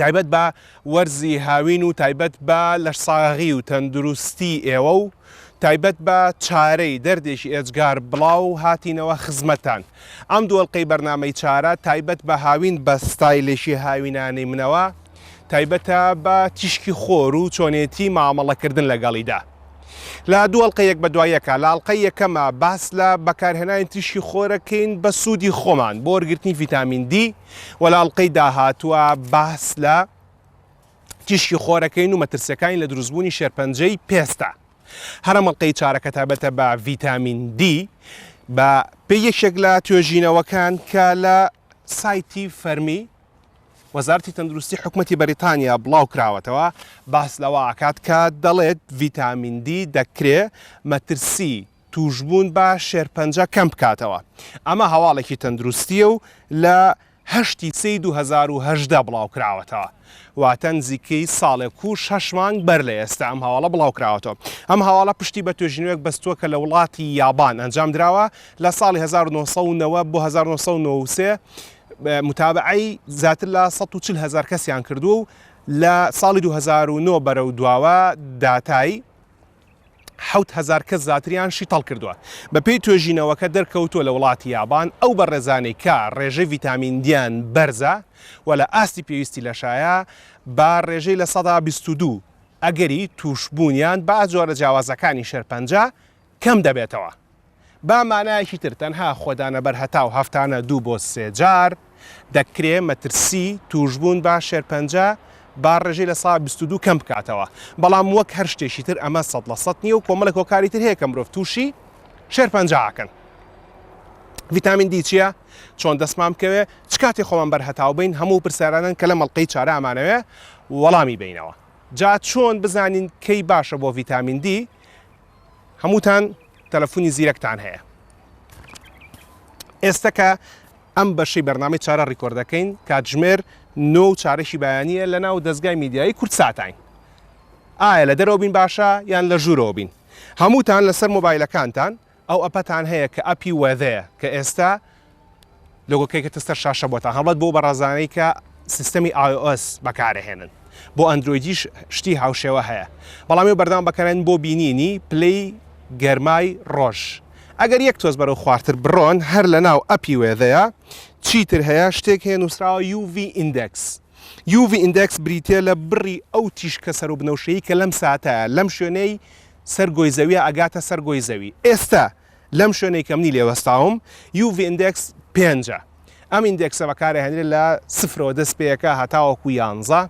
تایبەت بە وەرزی هاوین و تایبەت بە لەشساغی و تەندروستی ئێوە و تایبەت بە چارەی دەردێکی ئێجگار بڵاو هاتینەوە خزمەتان ئەم دووەڵلقەی بەرنمەی چارە تایبەت بە هاوین بە ستایلێکی هاوینانی منەوە تایبەتە بە تیشکی خۆر و چۆنێتی مامەڵەکردن لەگەڵیدا لە دووەڵلقە یەک بە دوایەکە لاڵقە یەکەمە باس لە بەکارهێنانی تیشکی خۆرەکەین بە سوودی خۆمان بۆ وەرگرتنی ڤیتامین دی وە لە ئەڵقەی داهاتووە باس لە تیشکی خۆرەکەین و مەترسیەکانی لە دروستبوونی شێرپەنجەی پێستە هەرم ئەڵلقەی چارەکە تابەتە بە ڤیتامین دی بە پێ یەکێک لە توێژینەوەکان کە لە سایتی فەرمی وەزارتی تەندروستی حکوومەتی بەریتانیا بڵاو کراوەتەوە باس لەوە ئاکات کە دەڵێت ڤیتامین دی دەکرێ مەترسی تووشبوون بە شێرپەنجە کەم بکاتەوە. ئەمە هەواڵێکی تەندروستییە و لە هەشت ی سێ ی دوو هەزار و هەژدە بڵاوکراوەتەوە، واتە نزیکەی ساڵێک و شەش مانگ بەر لە ئێستا ئەم هەواڵە بڵاوکراوەتەوە. ئەم هەواڵە پشتی بە توێژینەوەیەک بەستووە کە لە وڵاتی یابان ئەنجامدراوە لە ساڵی هەزار و نۆ سەد و نەوەد بۆ هەزار و نۆ سەد و نەوەد و سێ متابەعەی زیاتر لە سەد و چل هەزار کەسیان کردووە و لە ساڵی دوو هەزار و نۆ بەرەو دواوە داتای حەوت هەزار کەس زاتریان شیتەڵ کردووە. بە پێی توێژینەوەکە دەرکەوتووە لە وڵاتی یابان ئەو بەڕێزانەی کە ڕێژەی ڤیتامین دیان بەرزە و لە ئاستی پێویستی لەشایە بە ڕێژەی لە سەدا بیست و دوو ئەگەری تووشبوونیان بە جۆرە جیاوازەکانی شێرپەنجە کەم دەبێتەوە. با مانایەکی تر تەنها خۆدانە بەرهەتاو هەفتانە دوو بۆ سێ جار دەکرێ مەترسی تووشبوون بە شێرپەنجە با ڕێژەی لە سەدا بیست و دوو کەم بکاتەوە بەڵام وەک هەر شتێکی تر ئەمە سەد لە سەد نییە و کۆمەڵێک هۆکاری تر هەیە کە مرۆڤ تووشی شێرپەنجە ئەکەن ڤیتامین دی چییە چۆن دەستمان بکەوێ چ کاتێ خۆمان بەرهەتاو بین هەموو پرسیارانن کە لە مەڵقەی چارە ئەمانەوێ وەڵامی بینەوە جا چۆن بزانین کەی باشە بۆ ڤیتامین دی هەمووتان تەلەفونی زیرەکتان هەیە ئێستا کە ئەم بەشەی بەرنامەی چارە ڕیکۆردەکەین کاتژمێر نۆ و چارەشی بەیانە لە ناو دەستگای میدیایی کورد ساتین ئایا لە دەرەوە بین باشە یان لە ژوورەوە بین هەمووتان لەسەر مۆبایلەکانتان ئەو ئەپەتان هەیە کە ئەپی وەدەیە کە ئێستا لۆگۆکەی کەتە سەر شاشە بۆتان هەڵبەت بۆ بەڕازانەی کە سیستەمی iOS بەکارەهێنن بۆ ئەندرۆیدیش شتی هاوشێوە هەیە بەڵام ئێوە بەردەوام بەکەرەن بۆ بینینی پلەی گەرمای ڕۆژ ئەگەر یەک تۆز بەرەو خوارتر بڕۆن هەر لە ناو ئەپی وێدەیە چیتر هەیە شتێک هەیە نووسراوە UV Index UV Index بریتە لە بڕی ئەو تیشکە سەر و بنەوشەیی کە لەم ساتە لەم شوێنەی سەر گۆی زەویە ئەگاتە سەر گۆی زەوی ئێستا لەم شوێنەی کە منی لێ وەستاوم یو ڤی ئیندێکس پێنجە ئەم ئیندێکسە بەکارهێنرێت لە سفرەوە دەست پێیەکە هەتاوەکو یانزە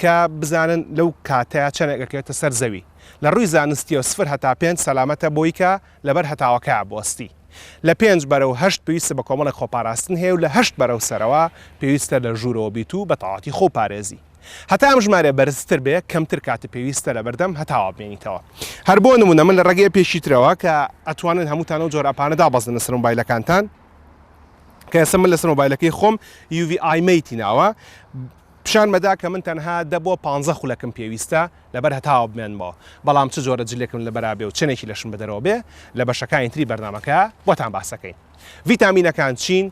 کە بزانن لەو کاتەیە چەنێک ئەکەوێتە سەر زەوی لە ڕووی زانستیەوە سفر هەتا پێنج سەلامەتە بۆی کە لەبەر هەتاوەکە بوەستی لە پێنج بەرەو هەشت پێویستە بە کۆمەڵێک خۆپاراستن هەیە و لە هەشت بەرەو سەرەوە پێویستە لە ژوورەوە بیت و بە تەواتی خۆپارێزی هەتا ئەم ژمارەیە بەرزتر بێ کەمتر کاتت پێویستە لەبەردەم هەتاوا بمێنیتەوە هەر بۆ نمونە من لە ڕێگەی پێشی ترەوە کە ئەتوانن هەمووتان و جۆر ئەپانە دابەزن لەسەر مۆبایلەکانتان کە ئێستا من لەسەر مۆبایلەکەی خۆم یوڤی ئایمەیتی ناوە پیشان مەدا کە من تەنها دە بۆ پ خولەکم پێویستە لەبەر هەتاوە بمێنمەوە بەڵام چ جۆرە جلێکم لە بەرابێ و چنێکی لەشم بەدەرەوە بێ لە بەشەکانی تری بەرنمەکە بۆتان باسەکەین ڤیتامینەکان چین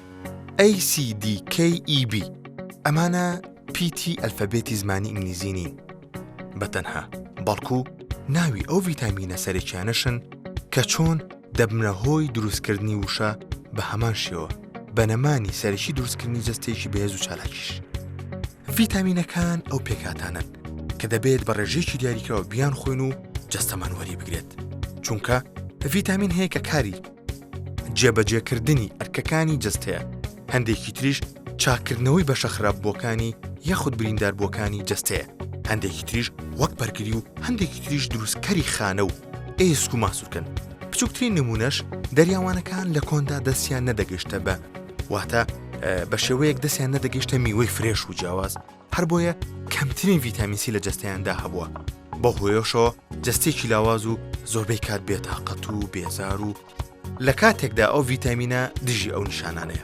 ACDKEB ئەمانە پیتی ئەلفەبێتی زمانی ئینگلیزی نین بە تەنها بەڵکو ناوی ئەو ڤیتامینە سەرەکیانەشن کە چۆن دەبنە هۆی دروستکردنی وشە بە هەمان شێوە بەنەمانی سەرەکی دروستکردنی جستێکی بەهێز و چالاکیش ڤیتامینەکان ئەو پێکاتانن کە دەبێت بە ڕێژێکی دیاریکراوە بیان خۆین و جستەمان وەری بگرێت چونکە ڤیتامین هەیە کە کاری جێبەجێکردنی ئەرکەکانی جەستەیە، هەندێکی تریش چاککردنەوەی بەشە خراپبووەکانی یاخود برینداربووەکانی جەستەیە، هەندێکی تریش وەک بەرگری و هەندێکی تریش دروستکەری خانە و ئێسک و ماسوولکەن. بچووکترین نمونەش دەریاوانەکان لە کۆندا دەستیان نەدەگەشتە بە واتە بە شێوەیەک دەستیان نەدەگەشتە میوەی فرێش و جیاواز، هەر بۆیە کەمترین ڤیتامین سی لە جەستەیاندا هەبووە بەو هۆیەشەوە جەستێکی لاواز و زۆربەی کات بێتاقەت و بێزار و لە کاتێکدا ئەو ڤیتامینە دژی ئەو نیشانانەیە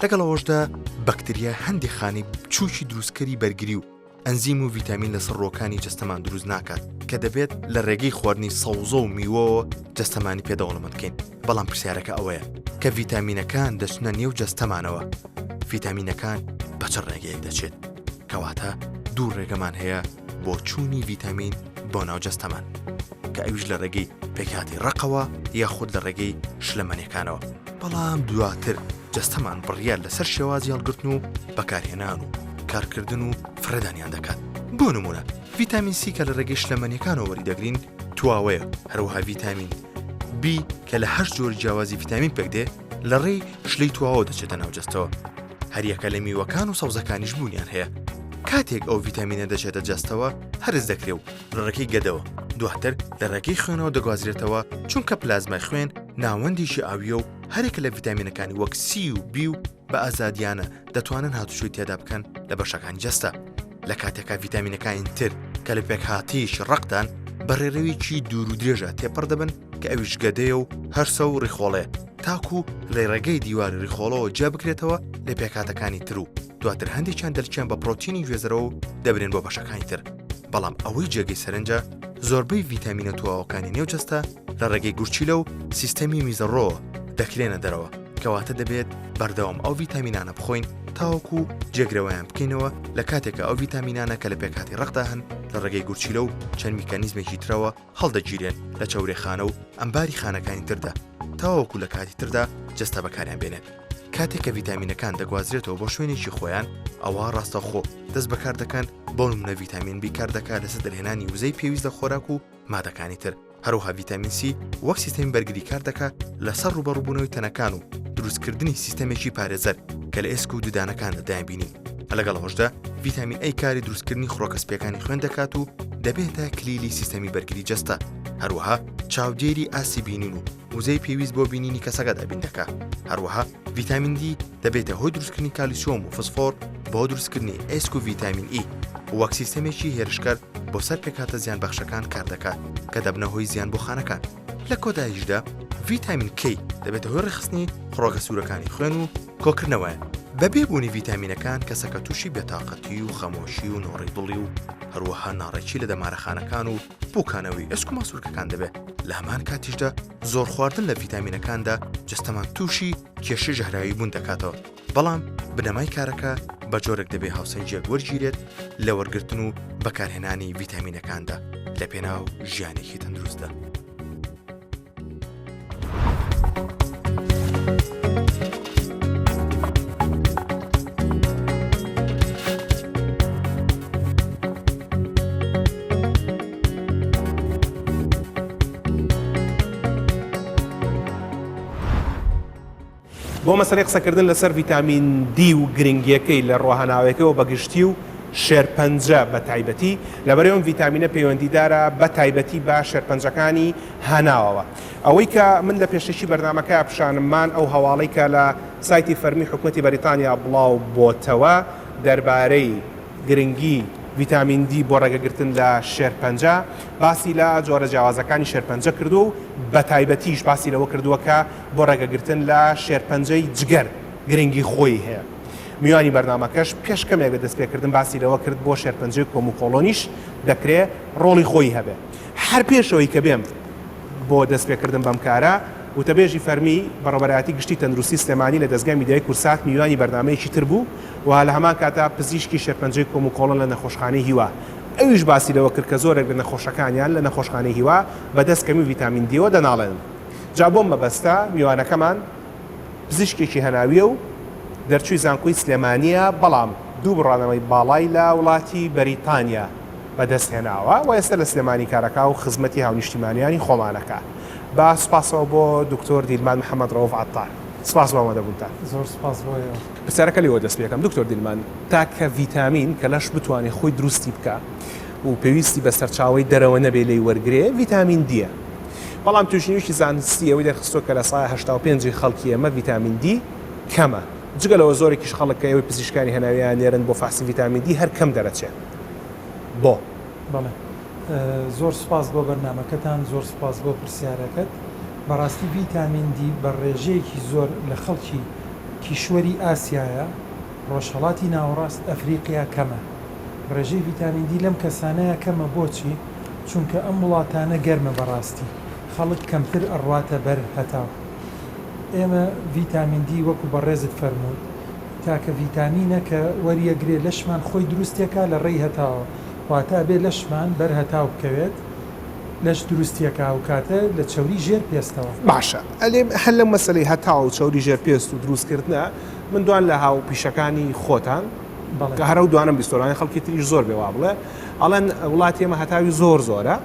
لەگەڵ ئەوەشدا بەکتریا هەندی خانی بچووکی دروستکەری بەرگری و ئەنزیم و ڤیتامین لە سڕۆکانی جستەمان دروست ناکات کە دەبێت لە ڕێگەی خواردنی سەوزە و میوەوە جستەمانی پێدەوڵەمەکەین بەڵام پرسیارەکە ئەوەیە کە ڤیتامینەکان دەچنە نێو جەستەمانەوە ڤیتامینەکان بە چ ڕێگەیەک دەچێت کەواتە دوو ڕێگەمان هەیە بۆ چوونی ڤیتامین بۆ ناو جەستەمان کە ئەویش لە ڕێگەی پێکاتی ڕقەوە یا خود لە ڕێگەی شلەمەنیەکانەوە بەڵام دواتر جەستەمان بڕیار لەسەر شێوازی هەڵگرتن و بەکارهێنان و کارکردن و فرەدانیان دەکات بۆ نمونە ڤیتامین سی کە لە ڕێگەی شلەمەنیەکانەوە وەری دەگرین تواوەیە هەروەها ڤیتامین بی کە لە هەشت جۆری جیاوازی ڤیتامین پێک دێ لە ڕێی شلەی تواوە دەچێتە ناوجەستەوە هەریەکە لە میوەکان و سەوزەکانیش بوونیان هەیە کاتێک ئەو ڤیتامینە دەچێتە جەستەوە هەرز دەکرێ و لە ڕێکی گەدەوە دواتر لە ڕێگەی خوێنەوە دەگوازرێتەوە چونکە پلازمای خوێن ناوەندیشی ئاویە و هەرێکە لە ڤیتامینەکانی وەک سی و بی و بە ئازادیانە دەتوانن هاتوچۆی تێدا بکەن لە بەشەکانی جەستە لە کاتێکا ڤیتامینەکانی تر کە لە پێکهاتیش ڕقدان بە ڕێڕەوێکی دوور و درێژە تێپەڕ دەبن کە ئەویش گەدەیە و هەرسە و ڕیخۆڵێ تاکو لە ڕێگەی دیوار ڕیخۆڵەوە جیا بکرێتەوە لە پێکاتەکانی تر و دواتر هەندێکیان دەلچیان بە پرۆتینی گوێزەرەوە و دەبرێن بۆ بەشەکانی تر بەڵام ئەوەی جێگەی سەرنجە زۆربەی ڤیتامینە تواوەکانی نێو جەستە لە ڕێگەی گورچیلە و سیستەمی میزەڕۆ دەکرێنە دەرەوە کەواتە دەبێت بەردەوام ئەو ڤیتامینانە بخۆین تاوەکو جێگرەوەیان بکەینەوە لە کاتێکە ئەو ڤیتامینانە کە لە پێکاتی ڕقدا هەن لە ڕێگەی گورچیلە و چەند میکانیزمێکی ترەوە هەڵدەگیرێن لە چاورێخانە و ئەمباری خانەکانی تردا تاوەکو لە کاتی تردا جەستە بەکاریان بێنێت کاتێک کە ڤیتامینەکان دەگوازرێتەوە بۆ شوێنێکی خۆیان ئەوە ڕاستەخۆ دەست بەکار دەکەن بۆ منە ڤیتامین بیکار دەکات لەسەر دەرهێنانی وزەی پێویست لە خۆراک و مادەکانی تر، هەروەها ڤیتامین سی وەک سیستەمی بەرگری کار دەکا لەسەر ڕوبەڕوبوونەوەی تەنەکان و دروستکردنی سیستەمێکی پارێزەر کە لە ئێسک و ددانەکاندا دایبینین لەگەڵ ئەوەشدا ڤیتامین ئەی کاری دروستکردنی خڕۆکە سپیەکانی خوێن دەکات و دەبێتە کلیلی سیستەمی بەرگری جەستە هەروەها چاودێری ئاسی بینین و وزەی پێویست بۆ بینینی کەسەکە دابین دەکە هەروەها ڤیتامین دی دەبێتە هۆی دروستکردنی کالیسۆم و فسفۆر بۆ دروستکردنی ئێسک و ڤیتامین ئی وەک سیستەمێکی هێرشکەر بۆ سەر پێکاتە زیان بەخشەکان کار دەکات کە دەبنە هۆی زیان بۆ خانەکان لە کۆدایشدا ڤیتامین کی دەبێتە هۆی ڕخستنی خڕۆگە سوورەکانی خوێن و کۆکردنەوەیان بە بێبوونی ڤیتامینەکان کەسەکە تووشی بێتاقەتی و خەمۆشی و نۆڕی دڵی و هەروەها ناڕێکی لە دەمارەخانەکان و بووکانەوەی ئەسک و ماسوولکەکان دەبێت لە هەمان کاتیشدا زۆر خواردن لە ڤیتامینەکاندا جستەمان تووشی کێشی ژەهراوی بوون دەکاتەوە بەڵام بنەمای کارەکە بە جۆرێک دەبێ هاوسەنگێک وەرگیرێت لە وەرگتن و بەکارهێنانی ڤیتامینەکاندا لە پێناو ژیانێکی تەندروستدا. بۆ مەسەلەی قسەکردن لەسەر ڤیتامین دی و گرنگیەکەی لە ڕۆهەناوەکەوە بە گشتی و شێرپەنجە بە تایبەتی، لەبەرەی ئەم ڤیتامینە پەیوەندیدارە بە تایبەتی بە شێرپەنجەکانی هەناوەوە. ئەوەی کە من لە پێشەکی بەرنامەکە پیشانممان ئەو هەواڵەی کە لە سایتی فەرمی حکومەتی بەریتانیا بڵاو بۆتەوە دەربارەی، گرنگی ڤیتامین دی بۆ ڕێگەگرتن لە شێرپەنجە، باسی لە جۆرە جیاوازەکانی شێرپەنجە کردووە و بە تایبەتیش باسی لەوە کردووە کە بۆ ڕێگەگرتن لە شێرپەنجەی جگەر گرنگی خۆی هەیە. میوانی بەرنامەکەش پێش کەمێک لە دەستپێکردن باسی لەوە کرد بۆ شێرپەنجەی کۆم و کۆڵۆنیش دەکرێ ڕۆڵی خۆی هەبێ. هەر پێش ئەوەی کە بێم بۆ دەستپێکردن بەم کارە، وتەبێژی فەرمی، بەڕێوەبەرایەتی گشتی تەندروستی سلێمانی لە دەزگای میدیایی کورسات میوانی بەرنامەیەکی تر بوو، و لە هەمان کاتدا پزیشکی شێرپەنجەی کۆموکۆڵن لە نەخۆشخانەی هیوا، ئەویش باسی لەوە کرد کە زۆرێک لە نەخۆشەکانیان لە نەخۆشخانەی هیوا بەدەست کەمی ڤیتامین دییەوە دەناڵێنن. جا بۆم مەبەستە میوانەکەمان پزیشکێکی هەناوییە و دەرچووی زانکۆی سلێمانییە، بەڵام دوو بڕانەوەی باڵای لە وڵاتی بەریتانیا بەدەست هێناوە و ئێستا لە سلێمانی کارەکا و خزمەتی هاونیشتیمانیانی خۆمانەکا. بە سوپاسەوە بۆ دکتۆر دیلمان محەمەد رەوف عەتار. سپاس بۆ ئامادەبوونتان. زۆر سوپاس بۆ ئێوە. پرسیارەکە لێوە دەست پێکەم دکتۆر دیلمان تاکە ڤیتامین کە لەش بتوانێ خۆی دروستی بکا و پێویستی بە سەرچاوەی دەرەوە نەبێ لێی وەرگرێ ڤیتامین دیە بەڵام توێژینەوەیەکی زانستی ئەوەی دەرخستوە کە لە سەدا هەشتا و پێنج ی خەڵکی ئێمە ڤیتامین دی کەمە جگە لەوە زۆرێکیش خەڵک کە ئێوەی پزیشکانی هەناویان نێرن بۆ فەحسی ڤیتامین دی هەر کەم دەرەچێ بۆ؟ بەڵێ زۆر سوپاس بۆ بەرنامەکەتان زۆر سوپاس بۆ پرسیارەکەت بەڕاستی ڤیتامین دی بە ڕێژەیەکی زۆر لە خەڵکی. کیشوەری ئاسیایە، ڕۆژهەڵاتی ناوەڕاست ئەفریقیا کەمە. ڕێژەی ڤیتامین دی لەم کەسانەیا کەمە بۆچی؟ چونکە ئەم وڵاتانە گەرمە بەڕاستی خەڵک کەمتر ئەڕواتە بەر هەتاو. ئێمە ڤیتامین دی وەکو بەڕێزت فەرمووت تاکە ڤیتامینە کە وەریەگرێ لەشمان خۆی دروستێکا لە ڕێی هەتاوە واتا ئەبێ لەشمان بەر هەتاو بکەوێت لەش دروستیەکا ئەو کاتە لە چەوری ژێر پێستەوە. باشە ئەلێ هەر لەم مەسەلەی هەتاو چەوری ژێر پێست و دروست کردنە من دوان لە هاو پیشەکانی خۆتان بەڵێ کە هەر ئەو دوانەم بیستۆرانی خەڵکی تریش زۆر بێ وا بڵێ ئەڵێن وڵاتی ئێمە هەتاوی زۆر زۆرە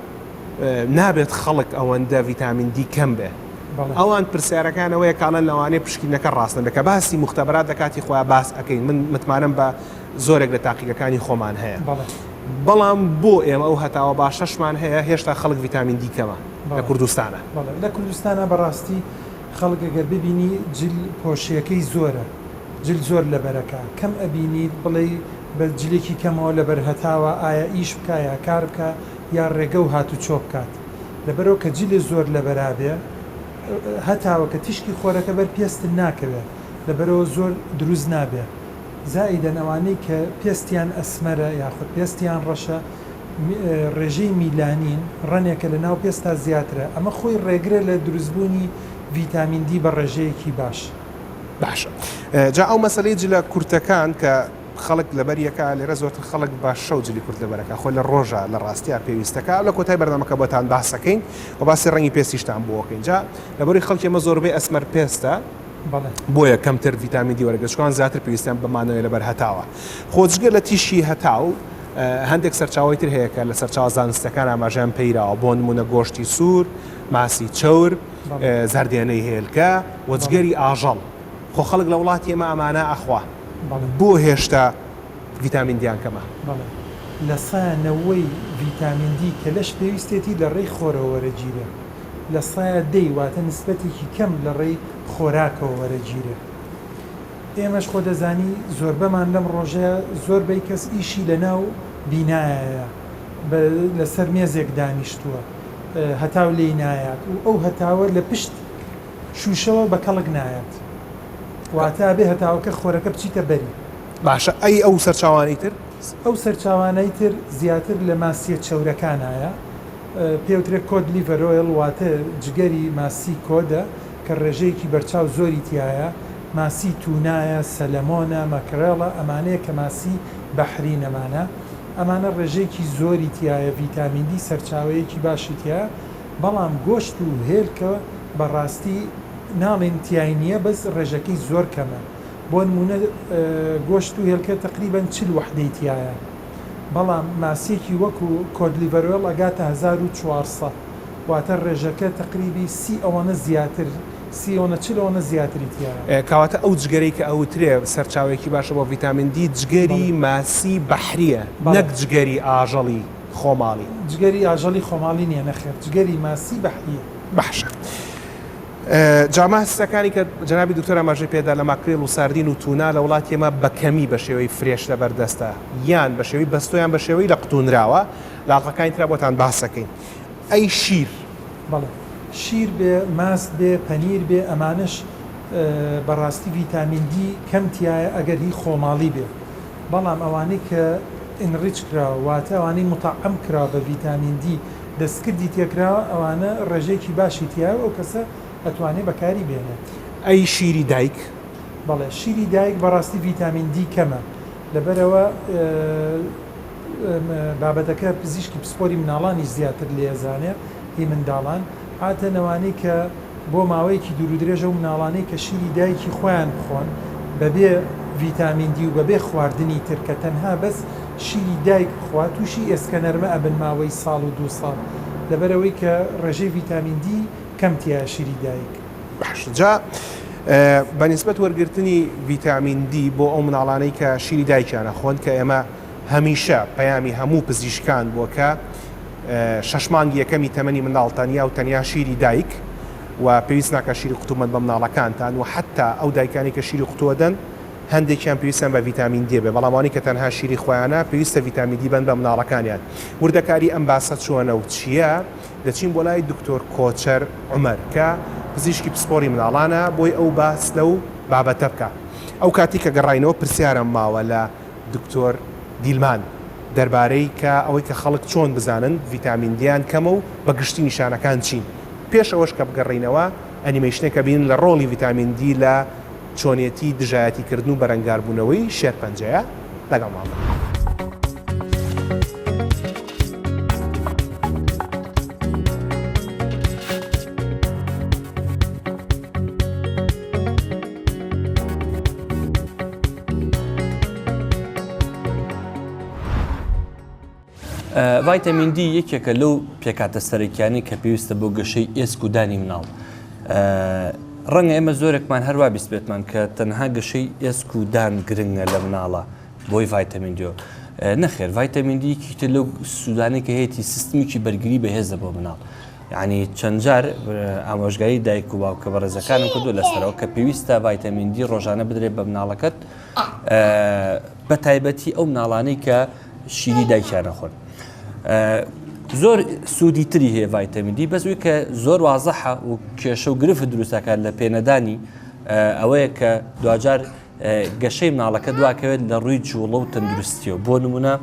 نابێت خەڵک ئەوەندە ڤیتامین دی کەم بێ بەڵێ ئەوان پرسیارەکان ئەوەیە کاڵەن لەوانەیە پشکینەکە ڕاست نەبێ کە باسی موختەبرات لە کاتی خۆیان باس ئەکەین من متمانەم بە زۆرێک لە تاقیگەکانی خۆمان هەیە بەڵێ. بەڵام بۆ ئێمە ئەو هەتاوە باشەشمان هەیە هێشتا خەڵک ڤیتامین دی کەمە لە کوردستانا. بەڵێ لە کوردستانا بەڕاستی خەڵک گەر ببینی جل پۆشیەکەی زۆرە جل زۆر لەبەرەکا کەم ئەبینیت بڵێی بە جلێکی کەمەوە لەبەر هەتاوە ئایا ئیش بکا یا کار بکا یا ڕێگە و هات و چۆ بکات لەبەرەوە کە جلێ زۆر لەبەرابێ هەتاوە کە تیشکی خۆرەکە بەر پێستت ناکەوێ لەبەرەوە زۆر دروست نابێ. زائیدەن ئەوانەی کە پێستیان ئەسمەرە یاخود پێستیان ڕەشە ڕێژەی میلانین ڕەنێکە لە ناو پێستدا زیاترە ئەمە خۆی ڕێگرە لە دروستبوونی ڤیتامین دی بە ڕێژەیەکی باش. باشە جا ئەو مەسەلەی جلە کورتەکان کە خەڵک لەبەر یەکە لێرە زۆرتر خەڵک بە شەو جلی کورت لەبەر ئەکا خۆ لە ڕۆژە لە ڕاستیا پێویستە کە لە کۆتای بەرنامەکە بۆتان باسەکەین و باسی ڕەنگی پێستیشتان بۆ ئەکەین جا لەبەروی خەڵکی ئێمە زۆربەی ئەسمەر پێستە بۆیە کەمتر ڤیتامین دی وەرەگرە چکان زیاتر پێویستیان بە مانەوەی لەبەر هەتاوە خۆجگە لە تیشی هەتاو هەندێک سەرچاوی تر هەیە کە لە سەرچاو زانستەکان ئاماژیان پەیراوە بۆ نمونە گۆشتی سوور ماسی چەور زەردێنەی هێلکە وەجگەری ئاژەڵ خۆ خەڵک لە وڵاتی ئێمە ئەمانە ئەخوا بۆ هێشتا ڤیتامین دیان کەمە لە سایە نەوەی ڤیتامین دی کە لەش پێویستێتی لە ڕێی خۆرەوە وەرەگیرێ. لە سەیا دەی واتە نسبەتێکی کەم لە ڕێی خۆراکەوە وەرەگیرێ ئێمەش خۆ دەزانی زۆربەمان لەم ڕۆژەیا زۆر بەی کەس ئیشی لە ناو بینایەیا بە لە سەر مێزێک دانیشتووە هەتاو لێی نایات و ئەو هەتاوە لە پشت شووشەوە بە کەڵک نایات واتە ئەبێ هەتاوەکە خۆرەکە بچیتە بەری. باشە ئەی ئەو سەرچاوانەی تر؟ ئەو سەرچاوانەی تر زیاتر لە ماسییە چەورەکانایە. پێوترێ کۆد لیڤەر ئۆیڵ واتە جگەری ماسی کۆدە کە ڕێژەیەکی بەرچاو زۆری تیایە ماسی تونایە سەلەمۆنە مەکرێڵە ئەمانەیە کە ماسی بەحری نەمانە ئەمانە ڕێژەیەکی زۆری تیایە ڤیتامین دی سەرچاوەیەکی باشی تیایە بەڵام گۆشت و هێلکە بەڕاستی ناڵێین تیای نیە بەس ڕێژەکەی زۆر کەمە بۆنمونە گۆشت و هێلکە تەقریبەن چل وەحدەی تیایە. بەڵام ماسیەکی وەکو کۆدلیڤەرۆێڵ ئەگاتە هەزار و چوار سەد واتە ڕێژەکە تەقریبی سی ئەوەنە زیاتر سی ئەوەنە چل ئەوەنە زیاتری تیایە. کەواتە ئەو جگەرەی کە ئەوترێ سەرچاوەیەکی باشە بۆ ڤیتامین دی جگەری بەڵێ. ماسی بەحریە بەڵێ. نەک جگەری ئاژەڵی خۆماڵی. جگەری ئاژەڵی خۆماڵی نیە نەخێر جگەری ماسی بەحریە. بەحشە. جا ماستەکانی کە جەنابی دکتۆر ئاماژەی پێدا لە ماکریل و ساردین و تونا لە وڵاتی ئێمە بە کەمی بە شێوەی فرێش لەبەر دەستە یان بە شێوەی بەستۆ یان بە شێوەی لەقتوونراوە لە ئاڵقەکانی ترا بۆتان باس دەکەین ئەی شیر؟ بەڵێ شیر بێ ماست بێ پەنیر بێ ئەمانەش بەڕاستی ڤیتامین دی کەم تیایە ئەگەر هی خۆماڵی بێ بەڵام ئەوانەی کە ئینڕیچ کراوە واتە ئەوانەی مطعم کراوە بە ڤیتامین دی دەستکردی تێکراوە ئەوانە ڕێژەیەکی باشی تیایە و ئەو کەسە ئەتوانێ بەکاری بێنێت. ئەی شیری دایک؟ بەڵێ شیری دایک بەڕاستی ڤیتامین دی کەمە لەبەرئەوە بابەتەکە پزیشکی پسپۆری مناڵانیش زیاتر لێی ئەزانێ هی منداڵان عاتەن ئەوانەی کە بۆ ماوەیەکی دوورودرێژ ئەو مناڵانەی کە شیری دایکی خۆیان بخۆن بەبێ ڤیتامین دی و بەبێ خواردنی تر کە تەنها بەس شیری دایک بخوا تووشی ئێسکەنەرمە ئەبن ماوەی ساڵ و دوو ساڵ لەبەرئەوەی کە ڕێژەی ڤیتامین دی کەم تیایە شیری دایک. باشە جا بە نیسبەت وەرگرتنی ڤیتامین دی بۆ ئەو مناڵانەی کە شیری دایکیان ئەخۆن کە ئێمە هەمیشە پەیامی هەموو پزیشکان بووە کە شەش مانگی یەکەمی تەمەنی منداڵ تەنیا و تەنیا شیری دایک و پێویست ناکات شیری قوتو بەن بە منداڵەکانتان و حەتا ئەو دایکانەی کە شیری قوتو ئەدەن هەندێکیان پێویستیان بە ڤیتامین دێ بێ بەڵام ئەوانەی کە تەنها شیری خۆیانە پێویستە ڤیتامین دی بەن بە منداڵەکانیان وردەکاری ئەم باسە چۆنە و چییە دەچین بۆ لای دکتۆر کۆچەر عومەر کە پزیشکی پسپۆری منداڵانە بۆی ئەو باس لەو بابەتە بکا ئەو کاتی کە گەڕاینەوە پرسیارم ماوە لە دکتۆر دیلمان، دەربارەی کە ئەوەی کە خەڵک چۆن بزانن ڤیتامین دییان کەمە و بە گشتی نیشانەکان چین؟ پێش ئەوەش کە بگەڕێینەوە ئەنیمەیشنێکە بینن لە ڕۆڵی ڤیتامین دی لە چۆنێتی دژایەتی کردن و بەرەنگار بوونەوەی شێرپەنجەیە لەگەڵمان بن. ڤایتەمین دی یەکێکە لەو پێکاتە سەرەکیانی کە پێویستە بۆ گەشەی ئێسک و دانی مناڵ. ڕەنگە ئێمە زۆرێکمان هەروە بیست بێتمان کە تەنها گەشەی ئێسک و دان گرنگە لە مناڵە بۆی ڤایتەمین دیۆ. نەخێر ڤایتەمین دیکیتە لەو سوودانی کە هەیەی سیستمیکی بەرگری بەهێزە بۆ مناڵ. یانی چەند جار ئامۆژگاری دایک و باوکە بەڕێزەکانم کردو لەسەرەوە کە پێویستە ڤایتەمین دی ڕۆژانە بدرێت بە مناڵەکەت بە تایبەتی ئەو مناڵانەی کە شیری دایکیان نەخۆن زۆر سوودی تری هەیە ڤایتەمین دی بەس وی کە زۆر وازەحە و کێشە و گرفت دروستەکان لە پێنەدانی ئەوەیە کە دواجار گەشەی مناڵەکە دواکەوێت لە ڕووی جوڵە و تەندروستیەوە بۆ نمونە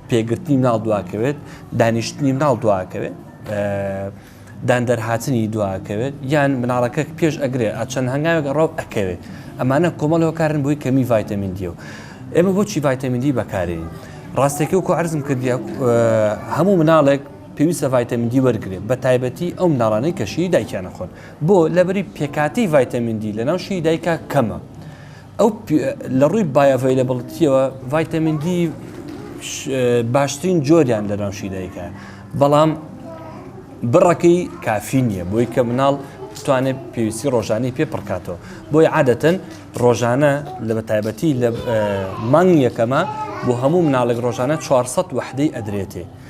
پێگرتنی مناڵ دواکەوێت دانیشتنی مناڵ دواکەوێت دان دەرهاتنی دواکەوێت یان مناڵەکە پێش ئەگرێ ئەچەند هەنگاوێک ڕاو ئەکەوێت ئەمانە کۆمەڵ هۆکارن بۆی کەمی ڤایتەمین دیە و ئێمە بۆچی ڤایتەمین دی بەکارین ڕاستێکی و کوارزم کردیا هەموو مناڵێک پێویستە ڤایتەمین دی وەرگێ بە تایبەتی ئەو مناڵانەی کەشی دایکیانە خۆن بۆ؟ لەبری پێکهاتەی ڤایتەمین دی لەناو شیری دایکا کەمە. ئەو لە ڕووی بایۆڤەیلەبڵتیەوە ڤایتەمین دی باشترین جۆریان لەناو شی دایکە بەڵام بڕەکەی کافی نییە بۆی کە مناڵ بتوانێت پێویستی ڕۆژانی پێ پڕکاتەوە بۆی عادەتەن ڕۆژانە لە بە تایبەتی لە مانگ یەکەمە بۆ هەموو مناڵێک ڕۆژانە 400 وحدەی ئەدرێتێ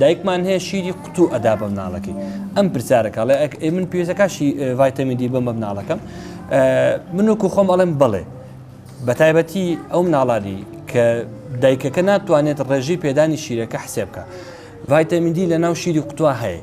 دایکمان هەیە شیری قوتو ئەدا بە مناڵەکەی ئەم پرسیارەکە ئەڵێ ئەک ئەی من پێویستە کاشی ڤایتەمین دی بم بە مناڵەکەم من وەکو خۆم ئەڵێم بڵێ بە تایبەتی ئەو مناڵانی کە دایکەکە ناتوانێت ڕێژی پێدانی شیرەکە حسێبکە ڤایتەمین دی لە ناو شیری قوتووە هەیە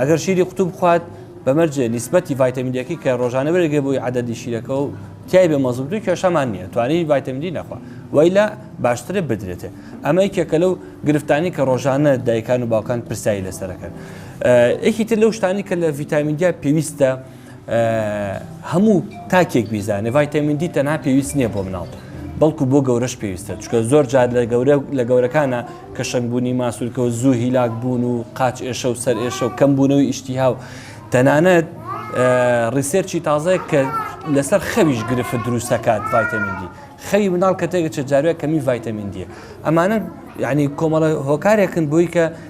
ئەگەر شیری قوتوو بخوات بەمەرج نیسبەتی ڤایتەمین دیەکەی کە ڕۆژانە بەرگە بووی عادەدی شیرەکە و تای بە مەزم دوو کێشەمان نییە توانی ڤایتەمدی نەخوا وای لە باشترە بدرێتێ ئەمە یکێکە لەو گرفتانی کە ڕۆژانە دایکان و باوکان پرسایی لەسەرەکەن یەکی تر لەو شتانی کە لە ڤیتامینیا پێویستە هەموو تاکێک بیزانێ ڤایتەمین دی تەنها پێویست نییە بۆ مناڵ بەڵکو بۆ گەورەش پێویستە چکە زۆر جار لە گەورە لە گەورەکانە کە شنگبوونی ماسوولکەوە زوو هیلاک بوون و قاچ ئێشە و سەر ئێشە و کەم بوونەوەی ئیشتیها و تەنانەت ڕیسێرچی تازەیە کە لەسەر خەویش گرفت دروستەکات ڤایتەمین دی خەوی مناڵ کە تێگەچە جاروێک کەمی ڤایتەمین دیە ئەمانە یعنی کۆمەڵە هۆکارێکن بۆی کە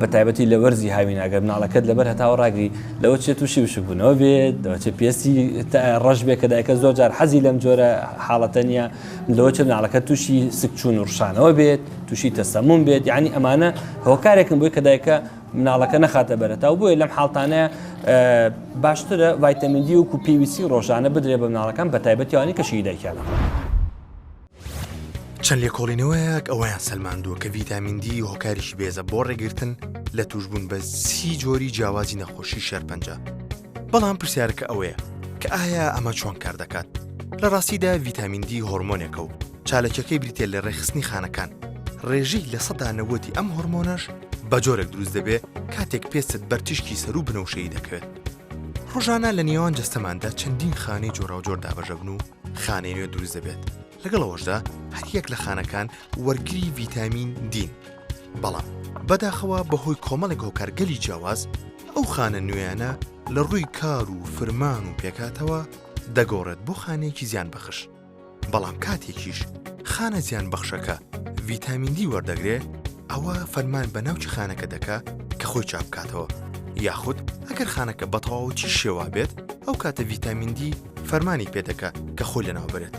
بە تایبەتی لە وەرزی هاوین ئەگەر مناڵەکەت لەبەر هەتاوە ڕاگری لەوە چێت تووشی وشکبوونەوە بێت لەوە چێت پێستی ڕەش بێت کە دایکە زۆر جار حەزی لەم جۆرە حاڵەتە نیە لەوە چێت مناڵەکە تووشی سکچوون و ڕشانەوە بێت تووشی تەسەمون بێت یعنی ئەمانە هۆکارێکم بۆی کە دایکە مناڵەکە نەخاتە بەرەتا و بۆیە لەم حاڵتانەیە باشترە ڤایتەمیندی وکو پێویستی ڕۆژانە بدرێ بە مناڵەکان بە تایبەتیوانی کە شیدایکیانە. چەند لێکۆڵینەوەیەک ئەوەیان سەلماندووە کە ڤیتامین دی هۆکاریشی بێزە بۆ ڕێگرتن لە توشبوون بە سی جۆری جیاوازی نەخۆشی شێرپەنجە بەڵام پرسیارەکە ئەوەیە کە ئایا ئەمە چۆن کار دەکات لە ڕاستیدا ڤیتامین دی هۆرمۆنێکە و چالەکەکەی بریتێ لە ڕێخستنی خانەکان ڕێژەی لە سەدانەوەتی ئەم هۆرمۆنەش بە جۆرێک دروست دەبێ کاتێک پێستت بەرتیشکی سەر و بنەوشەی دەکەوێت ڕۆژانە لە نێوان جەستەماندا چەندین خانەی جۆراوجۆر دابەژەبن و خانەی نوێ دروست دەبێت لەگەڵ ئەوەشدا هەریەک لە خانەکان وەرگری ڤیتامین دین بەڵام بەداخەوە بەهۆی کۆمەڵێک هۆکارگەلی جیاواز ئەو خانە نوێیانە لە ڕووی کار و فرمان و پێکاتەوە دەگۆڕێت بۆ خانێکی زیان بەخش بەڵام کاتێکیش خانە زیان بەخشەکە ڤیتامین دی وەردەگرێ ئەوا فەرمان بە ناوچ خانەکە دەکا کە خۆی چاپکاتەوە یاخود ئەگەر خانەکە بەتەواوەتی شێوا بێت ئەو کاتە ڤیتامیندی فەرمانی پێدەکە کە خۆی لەناو بێت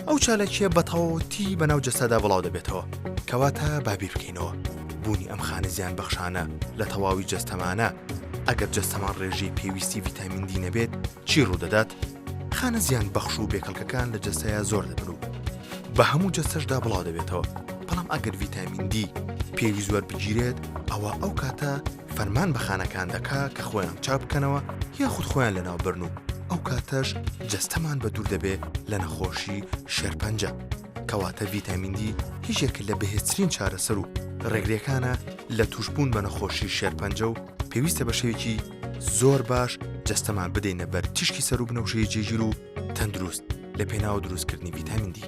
ئەو چالاکیە بەتەواوەتی بەناو جەسەدا بڵاو دەبێتەوە کەواتە بابیر بکەینەوە بوونی ئەم خانە زیان بەخشانە لە تەواوی جەستەمانە ئەگەر جەستەمان ڕێژەی پێویستی ڤیتامیندی نەبێت چی ڕوودەدات؟ خانە زیان بەخش و بێکەڵکەکان لە جەستەیا زۆر دەبن و بە هەموو جەستەشدا بڵاو دەبێتەوە، بەڵام ئەگەر ڤیتامین دی پێویست وەربگیرێت ئەوا ئەو کاتە فەرمان بە خانەکان دەکا کە خۆیان چاک بکەنەوە یاخود خۆیان لەناوبەرن و ئەو کاتەش جەستەمان بە دوور دەبێ لە نەخۆشی شێرپەنجە کەواتە ڤیتامین دی هیچێک لە بەهێزترین چارەسەر و ڕێگرەکانە لە تووشبوون بە نەخۆشی شێرپەنجە و پێویستە بە شێوێکی زۆر باش جەستەمان بدەینە بەر تیشکی سەر و بنەوشەی جێگیر و تەندروست لە پێناوە دروستکردنی ڤیتامیندی.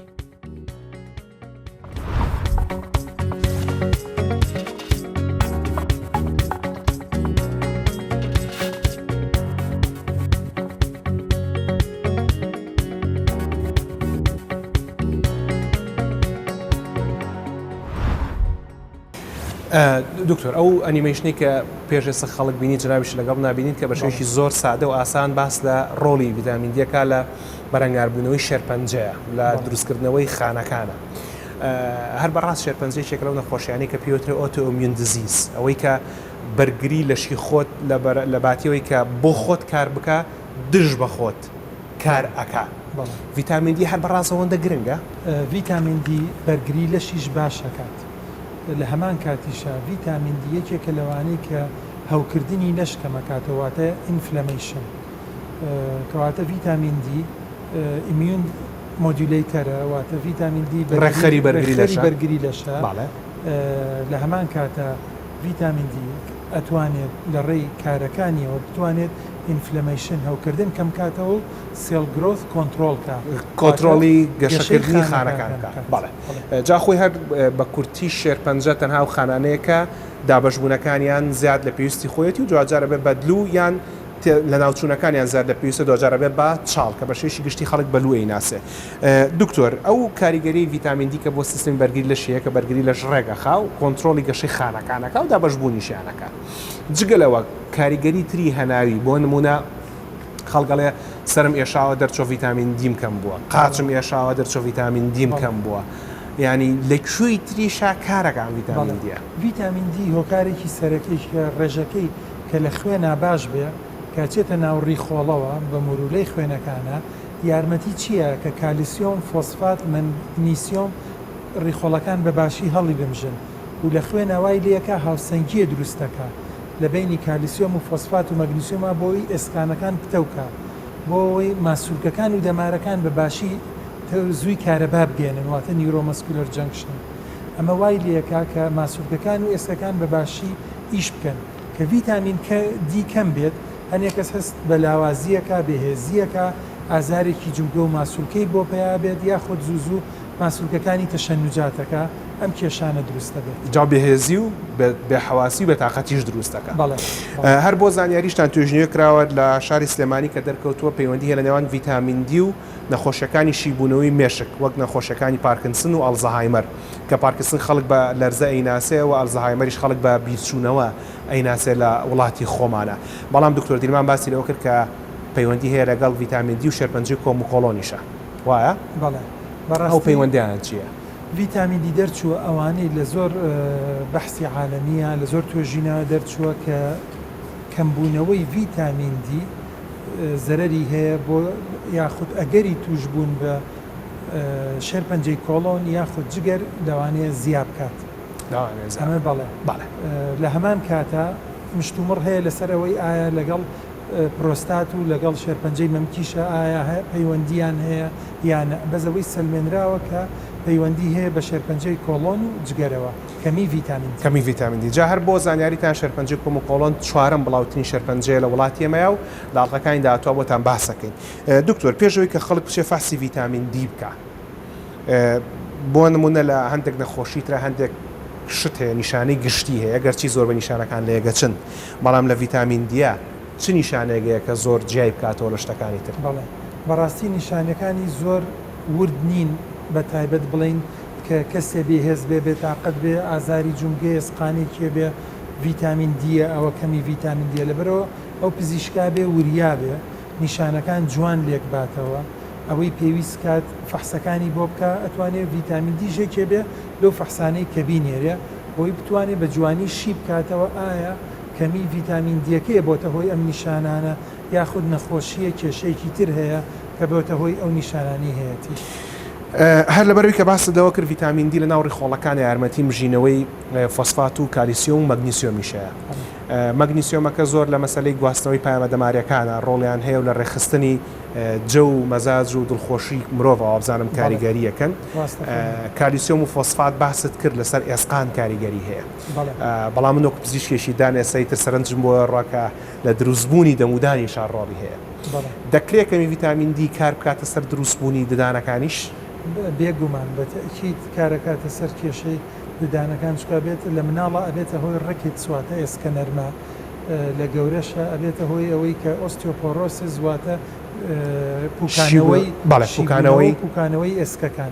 دکتۆر ئەو ئەنیمەیشنی کە پێش ئێستا خەڵک بینی جنابیش لەگەڵ نابینین کە بەشێکی زۆر سادە و ئاسان باس لە ڕۆڵی ڤیتامین دیەکە لە بەرەنگاربوونەوەی شێرپەنجەیە لە دروستکردنەوەی خانەکانە. هەر بەڕاست شێرپەنجەیەکێک لەو نەخۆشیانەی کە پێوترێ ئۆتۆمیون دزیز ئەوەی کە بەرگری لەشی خۆت لە باتیەوەی کە بۆ خۆت کار بکە دژ بە خۆت کار ئەکا ڤیتامین دی هەر بەڕاستەوەندە گرنگە ڤیتامین دی بەرگری لەشیش باش ئەکات. لە هەمان کاتیشا ڤیتامین دی یەکێکە لەوانەی کە هەوکردنی لەش کەمەکاتەوە واتە ئینفلەمەیشن کەواتە ڤیتامین دی ئیمیون مۆدیولەیتەرە واتە ڤیتامین دی ڕێکخەری بەرگری لەشە لە هەمان کاتە ڤیتامین دی ئەتوانێت لە ڕێی کارەکانیەوە بتوانێت ئینفلەمەیشن هەوکردن کەم کاتەوە و سێڵ گرۆس کۆنتترۆلکە کۆترۆڵی گەشەکردنی خانەکان بکات. جا خۆی هەر بە کورتی شێرپەنجە تەنها و خانانەیە کە دابەشبوونەکانیان زیاد لە پێویستی خۆیەتی و دواجارە بێ بەدلو یان لە ناوچوونەکانیان زیاد لە پێویستە دواجارە بێ بە چاڵ کە بەشێوەیەکی گشتی خەڵک بەلوو ئەیناسێ دکتۆر ئەو کاریگەریەی ڤیتامین دی کە بۆ سیستمی بەرگری لەش هەیە کە بەرگری لەش ڕێگەخا و کۆنترۆڵی گەشەی خانەکان ئەکا و دابەشبوونیشیان ئەکا جگە لەوە کاریگەری تری هەناوی بۆ نموونە خەڵکەڵێ سەرم ئێشاوە دەرچۆ ڤیتامین دیم کەم بووە قاچم ئێشاوە دەرچۆ ڤیتامین دیم کەم بووە ینی لە کوێی تریشا کارەکان ڤیتامین دیە ڤیتامین دی هۆکارێکی سەرەکیش کە ڕێژەکەی کە لە خوێنا باش بێ کە چێتە ناوڕی خۆڵەوە بە مورولەی خوێنەکانە یارمەتی چییە کە کالیسیۆم فۆسفات من نیسیۆم ڕیخۆڵەکان بە باشی هەڵی بمژن و لە خوێنەوای لەکە هاوسەنگیە دروستەکە لە بەینی کالیسیۆم و فۆسفات و مەگنیسیۆما بۆ ئەوەی ئێسکانەکان پتەو کا بۆ ئەوەی ماسولکەکان و دەمارەکان بە باشی تەوزوی کارەبا بگەیەنن واتە نیورۆمەسکولەر جەنکشن ئەمە وای لێ ئەکا کە ماسولکەکان و ئێسکەکان بە باشی ئیش بکەن کە ڤیتامین کە دی کەم بێت هەنێ کەس هەست بە لاوازییەکا بێهێزییەکا ئازارێکی جومگە و ماسولکەی بۆ پەیا بێت یاخود زوو زوو ماسولکەکانی تەشەنوجاتەکە ئەم کێشانە دروست دەبێت. جا بێهێزی و بێحەواسی و بێتاقەتیش دروست دەکات. هەر بۆ زانیاریشتان توێژینەوەیەک کراوە لە شاری سلێمانی کە دەرکەوتووە پەیوەندی هەیە لە نێوان ڤیتامین دی و نەخۆشیەکانی شیبوونەوەی مێشک وەک نەخۆشیەکانی پارکنسن و ئەلزەهایمەر کە پارکسن خەڵک بە لەرزە ئەیناسێ و ئەلزەهایمەریش خەڵک بە بیرچوونەوە ئەیناسێ لە وڵاتی خۆمانا بەڵام دکتۆر دیلمان باسی لەوە کرد کە پەیوەندی هەیە لەگەڵ ڤیتامین دی و شێرپەنجەی کۆم و کۆڵۆنیشە. وایە؟ بەڵێ بەڕاستی. ئەو پەیوەندیانە چیە؟ ڤیتامین دی دەرچووە ئەوانەی لە زۆر بەحسی عالەمیە لە زۆر توێژینەوە دەرچووە کە کەمبوونەوەی ڤیتامین دی زەرەری هەیە بۆ یاخود ئەگەری توشبوون بە شێرپەنجەی کۆڵۆن یاخود جگەر لەوانەیە زیا بکات ئەمە بەڵێ لە هەمان کاتە مشتومڕ هەیە لەسەر ئەوەی ئایا لەگەڵ پرۆستات و لەگەڵ شێرپەنجەی مەمکیشە ئایا پەیوەندییان هەیە یا نە، بەس ئەوەی سەلمێنراوە کە پەیوەندی هەیە بە شێرپەنجەی کۆڵۆن و جگەرەوە، کەمی ڤیتامین دی. کەمی ڤیتامین دی. جا هەر بۆ زانیاریتان شێرپەنجەی کۆم و کۆڵۆن چوارەم بڵاوترین شێرپەنجەیە لە وڵاتی ئێمەیا و لە ئەڵقەکانی داهاتووا بۆتان باس ئەکەین. دکتۆر پێش ئەوەی کە خەڵک بچێ فەحسی ڤیتامین دی بکا بۆ نموونە لە هەندێک نەخۆشی ترا هەندێک شت هەیە نیشانەی گشتی هەیە گەرچی زۆربەی نیشانەکان لە یەگەچن، بەڵام لە ڤیتامین دیە چ نیشانەیەک هەیە کە زۆر جیای بکاتەوە لە شتەکانی تر؟ بەڵێ بەڕاستی نیشانەکانی زۆر ورد نین بە تایبەت بڵێین کە کەسێ بێ هێز بێ بێ تاقەت بێ ئازاری جومگەیە سقانێکی هەبێ ڤیتامین دیە ئەوە کەمی ڤیتامین دیە لەبەرئەوە ئەو پزیشکا بێ وریا بێ نیشانەکان جوان لێک باتەوە ئەوەی پێویست کات فەحسەکانی بۆ بکا ئەتوانێ ڤیتامین دیش یەکێ بێ لەو فەحسانەی کە بینێرێ بۆی بتوانێت بە جوانی شی بکاتەوە، ئایا کەمی ڤیتامین دیەکەیە بۆتە هۆی ئەم نیشانانە یاخود نەخۆشییە کێشەیەکی تر هەیە کە بۆتە هۆی ئەو نیشانانەی هەیەتی. هەر لەبەرئەوەی کە باست لەوە کرد ڤیتامین دی لەناو ڕیخۆڵەکانە یارمەتی مژینەوەی فۆسفات و کالیسیۆم و مەگنیسیۆمیش هەیە. مەگنیسیۆمەکە زۆر لە مەسەلەی گواستنەوەی پایەمە دەماریەکانە ڕۆڵیان هەیە و لە ڕێکخستنی. جە و مەزاج و دڵخۆشی مرۆڤ وابزانم کاریگەری یەکەن کالیسیۆم و فۆسفات باست کرد لەسەر ئێسقان کاریگەری هەیە بەڵام من وەک پزیشکێکی دان ئێسای تر سەرنجم بۆ ڕاکە لە دروستبوونی دەمودانی شارڕۆڵی هەیە دەکرێت کەمی ڤیتامین دی کار بکاتە سەر دروستبوونی ددانەکانیش بێگومان بەتەکییت کارەکاتە سەر کێشەی ددانەکان چکە بێت لە مناڵە ئەبێتە هۆی ڕکیت سواتە ئێسکە نەرمە لە گەورەشە ئەبێتە هۆی ئەوەی کە Osteoporosis واتە پوکانەوەی پوکانەوەی ئێسکەکان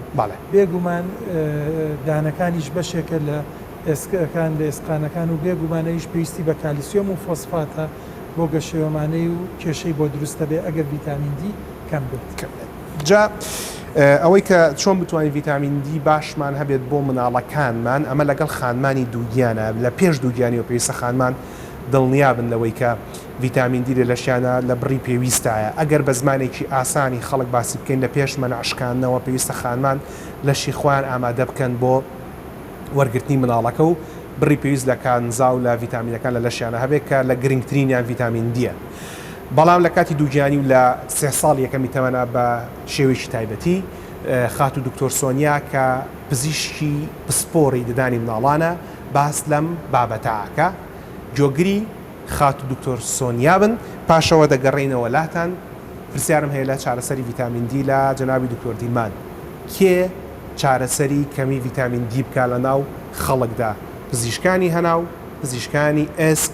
بێگومان دانەکانیش بەشێکە لە ئێسکەکان لە ئێسقانەکان و بێگومان ئەویش پێویستی بە کالیسیۆم و فۆسفاتە بۆ گەشەیۆمانەی و کێشەی بۆ دروستەبێ ئەگەر ڤیتامین دی کەم بێت. جا ئەوەی کە چۆن بتوانین ڤیتامین دی باشمان هەبێت بۆ مناڵەکانمان ئەمە لەگەڵ خانمانی دووگیانە لە پێش دووگیانیەوە پێویستە خانمان دڵنیابن لەوەی کە ڤیتامین دی لە لەشیانە لە بڕی پێویستایە ئەگەر بە زمانێکی ئاسانی خەڵک باسی بکەین لە پێش مەنع شکاندنەوە پێویستە خانمان لەشی خۆیان ئامادە بکەن بۆ وەرگرتنی مناڵەکە و بڕی پێویست لە کانزا و لە ڤیتامینەکان لە لەشیانە هەبێت کە لە گرنگترینیان ڤیتامین دیە. بەڵام لە کاتی دووگیانی و لە سێ ساڵ یەکەمی تەمەنا بە شێوەیەکی تایبەتی خاتوو دکتۆر سۆنیا کە پزیشکی پسپۆڕی ددانی مناڵانە باس لەم بابەتە ئەکا گۆگری خاتوو دکتۆر سۆنیا بن پاشەوە دەگەڕێینەوە لاتان پرسیارم هەیە لە چارەسەری ڤیتامین دی لە جەنابی دکتۆر دیلمان کێ چارەسەری کەمی ڤیتامین دی بکا لە ناو خەڵکدا پزیشکانی هەناو پزیشکانی ئێسک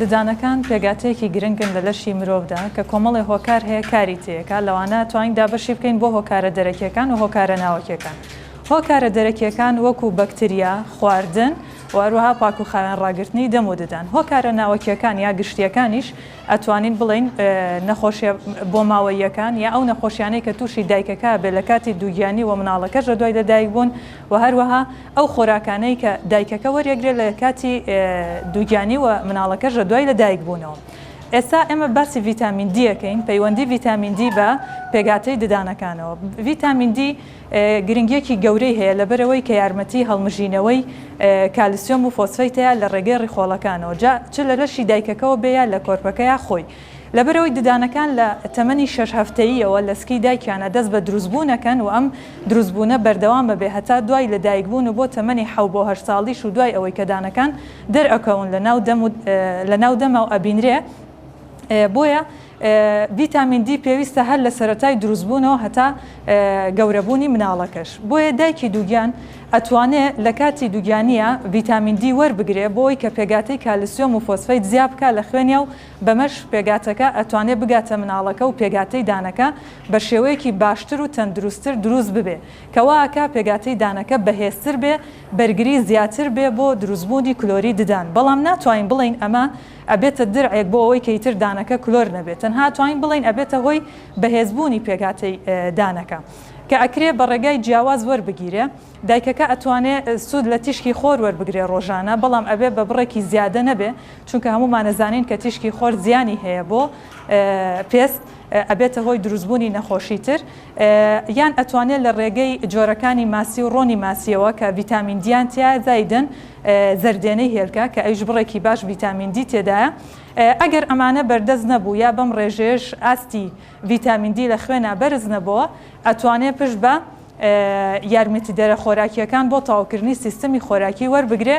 ددانەکان پێگاتەیەکی گرنگن لە لەشی مرۆڤدا کە کۆمەڵێ هۆکار هەیە کاری تێکا لەوانە توانین دابەشی بکەین بۆ هۆکارە دەرەکیەکان و هۆکارە ناوەکیەکان هۆکارە دەرەکیەکان وەکو بەکتریا خواردن و هەروەها پاکوخاوێن ڕاگرتنی دەم و ددان هۆکارە ناوەکیەکان یا گشتیەکانیش ئەتوانین بڵین نەخۆشیە بۆ ماوەیەکان یا ئەو نەخۆشیانەی کە تووشی دایکەکە بێ لە کاتی دووگیانی و مناڵەکەش لە دوای لەدایک بوون و هەروەها ئەو خۆراکانەی کە دایکەکە وەریەگرێت لە کاتی دووگیانی و مناڵەکەش لە دوای لە دایک بوونەوە. ئێستا ئێمە باسی ڤیتامین دی ئەکەین، پەیوەندی ڤیتامین دی بە پێکهاتەی ددانەکانەوە. ڤیتامین دی گرنگیەکی گەورەی هەیە لەبەرئەوەی کە یارمەتی هەڵمژینەوەی کالسیۆم و فۆسفەیتە لە ڕێگەی ڕیخۆڵەکانەوە جا چ لە لەشی دایکەکەوە بێ یا لە کۆرپەکە یا خۆی لەبەرئەوەی ددانەکان لە تەمەنی شەش هەفتەییەوە لە سکی دایکیانە دەست بە دروستبوون ئەکەن و ئەم دروستبوونە بەردەوام ئەبێ هەتا دوای لەدایکبوون و بۆ تەمەنی حەو بۆ هەشت ساڵیش و دوای ئەوەی کە دانەکان دەرئەکەون لەناو دەم و لەناو دەمەوە ئەبینرێ بۆیە ڤیتامین دی پێویستە هەر لە سەرەتای دروستبوونەوە هەتا گەورەبوونی مناڵەکەش بۆیە دایکی دووگیان ئەتوانێ لە کاتی دووگیانیا ڤیتامین دی وەربگرێ بۆ ئەوەی کە پێگاتەی کالسیۆم و فۆسفەیت زیابکا لە خوێنیا و بەمەش پێگاتەکە ئەتوانێ بگاتە مناڵەکە و پێگاتەی دانەکە بە شێوەیەکی باشتر و تەندروستتر دروست ببێ کە وا ئەکا پێگاتەی دانەکە بەهێزتر بێ بەرگری زیاتر بێ بۆ دروستبوونی کلۆری ددان بەڵام ناتوانین بڵێین ئەمە ئەبێتە درعێک بۆ ئەوەی کە ئیتر دانەکە کلۆر نەبێ تەنها ئەتوانین بڵێین ئەبێتە هۆی بەهێزبوونی پێگاتەی دانەکە کە ئەکرێ بە ڕێگای جیاواز وەربگیرێ. دایکەکە ئەتوانێ سوود لە تیشکی خۆر وەربگرێ ڕۆژانە بەڵام ئەبێ بە بڕێکی زیادە نەبێ چونکە هەموومان ئەزانین کە تیشکی خۆر زیانی هەیە بۆ پێست ئەبێتە هۆی دروست بوونی نەخۆشی تر یان ئەتوانێ لە ڕێگەی جۆرەکانی ماسی و ڕۆنی ماسیەوە کە ڤیتامین دیان تیایە زایدەن زەردێنەی هێلکە کە ئەویش بڕێکی باش ڤیتامین دی تێدایە ئەگەر ئەمانە بەردەست نەبوو یا بەم ڕێژەیەش ئاستی ڤیتامین دی لە خوێنا بەرز نەبۆوە ئەتوانێ پشت بە یارمەتیدەرە خۆراکییەکان بۆ تەواوکردنی سیستەمی خۆراکی وەربگرێ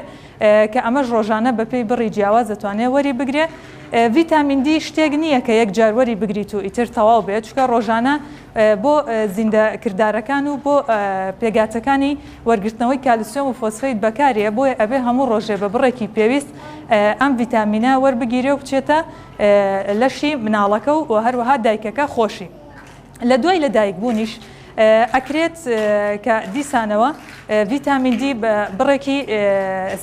کە ئەمەش ڕۆژانە بەپێی بڕی جیاواز دەتوانێ وەری بگرێ. ڤیتامین دی شتێک نییە کە یەک جار وەری بگریت و ئیتر تەواو بێ چونکە ڕۆژانە بۆ زیندە کردارەکان و بۆ پێگاتەکانی وەرگرتنەوەی کالسیۆم و فۆسفەیت بەکارێ بۆیە ئەبێ هەموو ڕۆژێ بە بڕێکی پێویست ئەم ڤیتامینە وەربگیرێ و بچێتە لەشی مناڵەکە و هەروەها دایکەکە خۆشی لە دوای لە دایک بوونیش ئەکرێت کە دیسانەوە ڤیتامین دی بە بڕێکی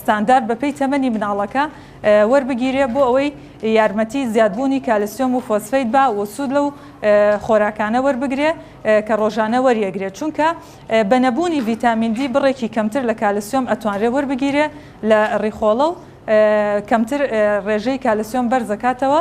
ستاندارد بە پێی تەمەنی مناڵەکە وەربگیرێ بۆ ئەوەی یارمەتی زیادبوونی کالسیۆم و فۆسفەیت با و سوود لەو خۆراکانە وەربگرێ کە ڕۆژانە وەریەگرێت چونکە بە نەبوونی ڤیتامین دی بڕێکی کەمتر لە کالسیۆم ئەتوانرێ وەربگیرێ لە ڕیخۆڵە و کەمتر ڕێژەی کالسیۆم بەرزەکاتەوە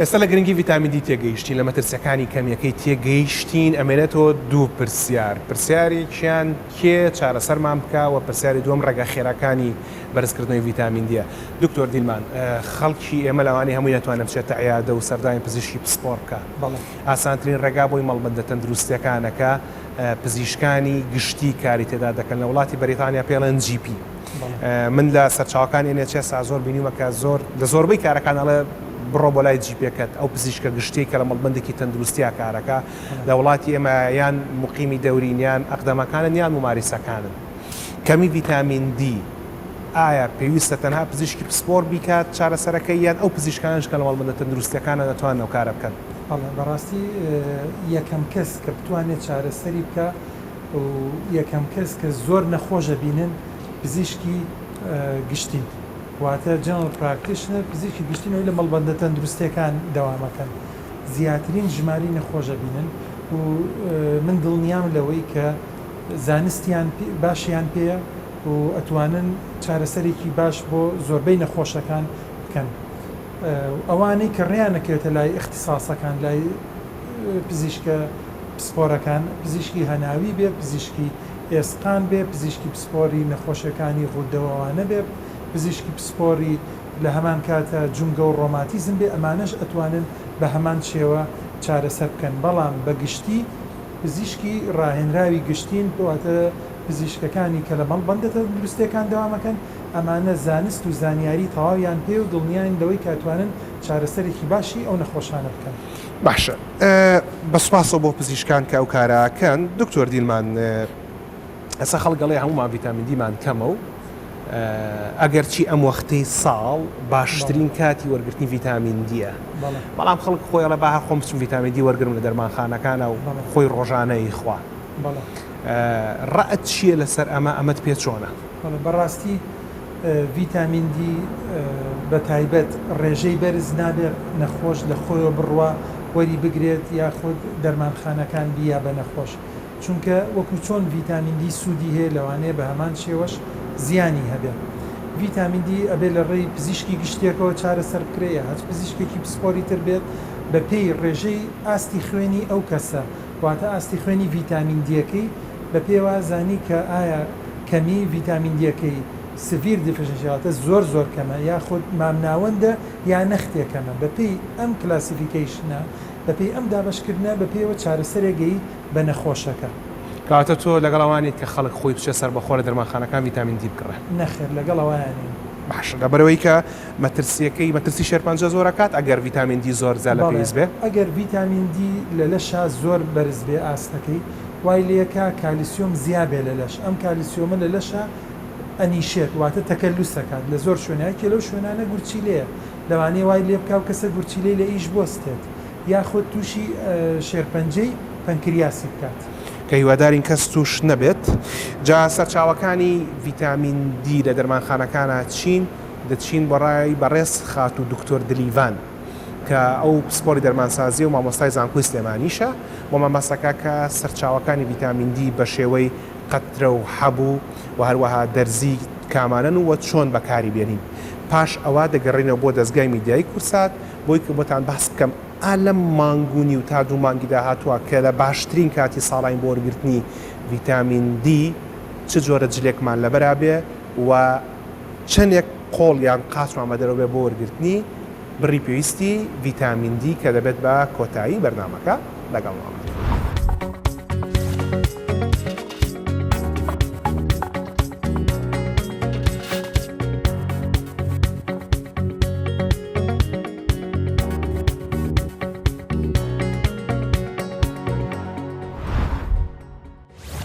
ئێستا لە گرنگی ڤیتامین دی تێگەیشتین، لە مەترسیەکانی کەمیەکەی تێگەیشتین، ئەمێنێتەوە دوو پرسیار، پرسیارێکیان کێ چارەسەرمان بکا وە پرسیاری دووەم ڕێگا خێراکانی بەرزکردنەوەی ڤیتامین دیە؟ دکتۆر دیلمان، خەڵکی ئێمە لەوانەیە هەمووی نەتوانێ بچێتە عیادە و سەردانی پزیشکی پسپۆڕ بکا، ئاسانترین ڕێگا بۆی مەڵبەندە تەندروستیەکانە کە پزیشکانی گشتی کاری تێدا دەکەن، لە وڵاتی بەریتانیا پێڵێن جی پی، من لە سەرچاوەکانی ئێن ئێچ ئێس ئازۆر بینیومە کە زۆر لە زۆربەی کارەکان ئەڵێ بڕۆ بۆ لای جیپێکەت ئەو پزیشکە گشتیەی کە لە مەڵبەندێکی تەندروستیا کارەکە لە وڵاتی ئێمە یان موقیمی دەورین یان ئەقدەمەکانن یان موماریسەکانن کەمی ڤیتامین دی ئایا پێویستە تەنها پزیشکی پسپۆر بیکات چارەسەرەکەی یان ئەو پزیشکانەش کە لە مەڵبەندە تەندروستیەکانن ئەتوانن ئەو کارە بکەن؟ بەڵێ بەڕاستی یەکەم کەس کە بتوانێت چارەسەری بکا. و یەکەم کەس کە زۆر نەخۆش ئەبینن پزیشکی گشتین واتە General Practitioner پزیشکی گشتین ئەوەی لە مەڵبەندە تەندروستیەکان دەوام ئەکەن زیاترین ژمارەی نەخۆش ئەبینن و من دڵنیام لەوەی کە زانستیان باشیان پێیە و ئەتوانن چارەسەرێکی باش بۆ زۆربەی نەخۆشەکان بکەن ئەوانەی کە ڕێیان ئەکەوێتە لای ئیختیساسەکان لای پزیشکە پسپۆرەکان، پزیشکی هەناوی بێت، پزیشکی ئێسقان بێت، پزیشکی پسپۆری نەخۆشیەکانی غوددەو ئەوانە بێت، پزیشکی پسپۆری لەهەمان کاتە جومگەو ڕۆماتیزم بێت، ئەمانەش ئەتوانن بەهەمان شێوە چارەسەر بکەن، بەڵام بەگشتی پزیشکی ڕاهێنراوی گشتین، واتە پزیشکەکانی کە لەمەڵبەندە تەندروستیەکان دەوام ئەکەن، ئەمانە زانست و زانیاری تەواویان پێیەو دڵنیاین لەوەی کە ئەتوانن چارەسەرێکی باشی ئەو نەخۆشانە بکەن. باشە بە سوپاسەوە بۆ پزیشکان کە ئەو کارە کەن دکتۆر دیلمان ئەسا خەڵک گەڵێ هەمومان ڤیتامین دیمان کەمە و ئەگەر چی ئەم وەختەی ساڵ باشترین کاتی وەرگرتنی ڤیتامین دیە بەڵام خەڵک خۆی لە باهر خۆم بچم ڤیتامین دی وەرگرم لە دەرمانخانەکانە و خۆی ڕۆژانەی خوا ڕەت چییە لەسەر ئەمە ئەمەد پێ چۆنە بەڵێ بەڕاستی ڤیتامین دی بەتایبەت ڕێژەی بەرز نابێت نەخۆش لە خۆیەوە بڕوا وەری بگرێت یاخود دەرمانخانەکان بیە بە نەخۆش چونکە وەکو چۆن ڤیتامین دی سوودی هەیە لەوانەیە بە هەمان شێوەش زیانی هەبێ ڤیتامین دی ئەبێ لە ڕێی پزیشکی گشتیەکەوە چارەسەر بکرێ یە هەچ پزیشکێکی پسپۆری تر بێت بە پێی ڕێژەی ئاستی خوێنی ئەو کەسە واتە ئاستی خوێنی ڤیتامین دیەکەی بە پێ وا زانی کە ئایا کەمی ڤیتامین دیەکەی Severe Deficiency واتە زۆر زۆر کەمە یاخود مامناوەندە یا نەختێ کەمە بە پێی ئەم کلاسیفیکەیشنە بە پێی ئەم دابەش کردنە بە پێیەوە چارەسەرێ گەی بە نەخۆشەکە. کەواتە تۆ لەگەڵ ئەوە نیت کە خەڵک خۆی بچێ سەربەخۆ لە دەرمانخانەکان ڤیتامین دی بکڕێ؟ نەخێر لەگەڵ ئەوەیا نیم. باشە لەبەرئەوەی کە مەترسیەکەی مەترسی شێرپەنجە زۆرە کات ئەگەر ڤیتامین دی زۆر زیاد لە پێویست بێ؟ بەڵێ ئەگەر ڤیتامین دی لە لەشا زۆر بەرز بێ ئاستەکەی وای لێکا کالیسیۆم زیا بێ لە لەش ئەم کالیسیۆمە لە لەشا ئەنیشێت واتە تەکەلوس ئەکات لە زۆر شوێنا یەکێ لەو شوێنانە گورچیلەیە لەوانەیە وای لێ بکا و کەسە گورچیلەی لە ئیش بۆستێت یاخود توشی شێرپەنجەی پەنکریاسی بکات. کە هیوادارین کەس توش نەبێت. جا سەرچاوەکانی ڤیتامین دی لە دەرمانخانەکانا چین؟ دەچین بۆ ڕای بەڕێز خاتوو دکتۆر دلیڤان کە ئەو پسپۆڕی دەرمانسازیە و مامۆستای زانکۆی سلێمانیشە بۆ مەبەستەکە کە سەرچاوەکانی ڤیتامین دی بە شێوەی قەترە و حەب و وە هەروەها دەرزی کامانەن و وە چۆن بەکاری بێنین پاش ئەوە دەگەڕێینەوە بۆ دەزگای میدیایی کوردسات بۆی کە بۆتان بەحس بکەم ئا لەم مانگ و نیو تا دوو مانگی داهاتوە کە لە باشترین کاتی ساڵاین بۆ وەرگرتنی ڤیتامین دی چ جۆرە جلێکمان لەبەرا بێ وە چەندێک قۆڵ یان قاچمان بە دەرەوە بێت بۆ وەرگرتنی بڕی پێویستی ڤیتامین دی کە دەبێت بە کۆتایی بەرنامەکە لەگەڵمان بن.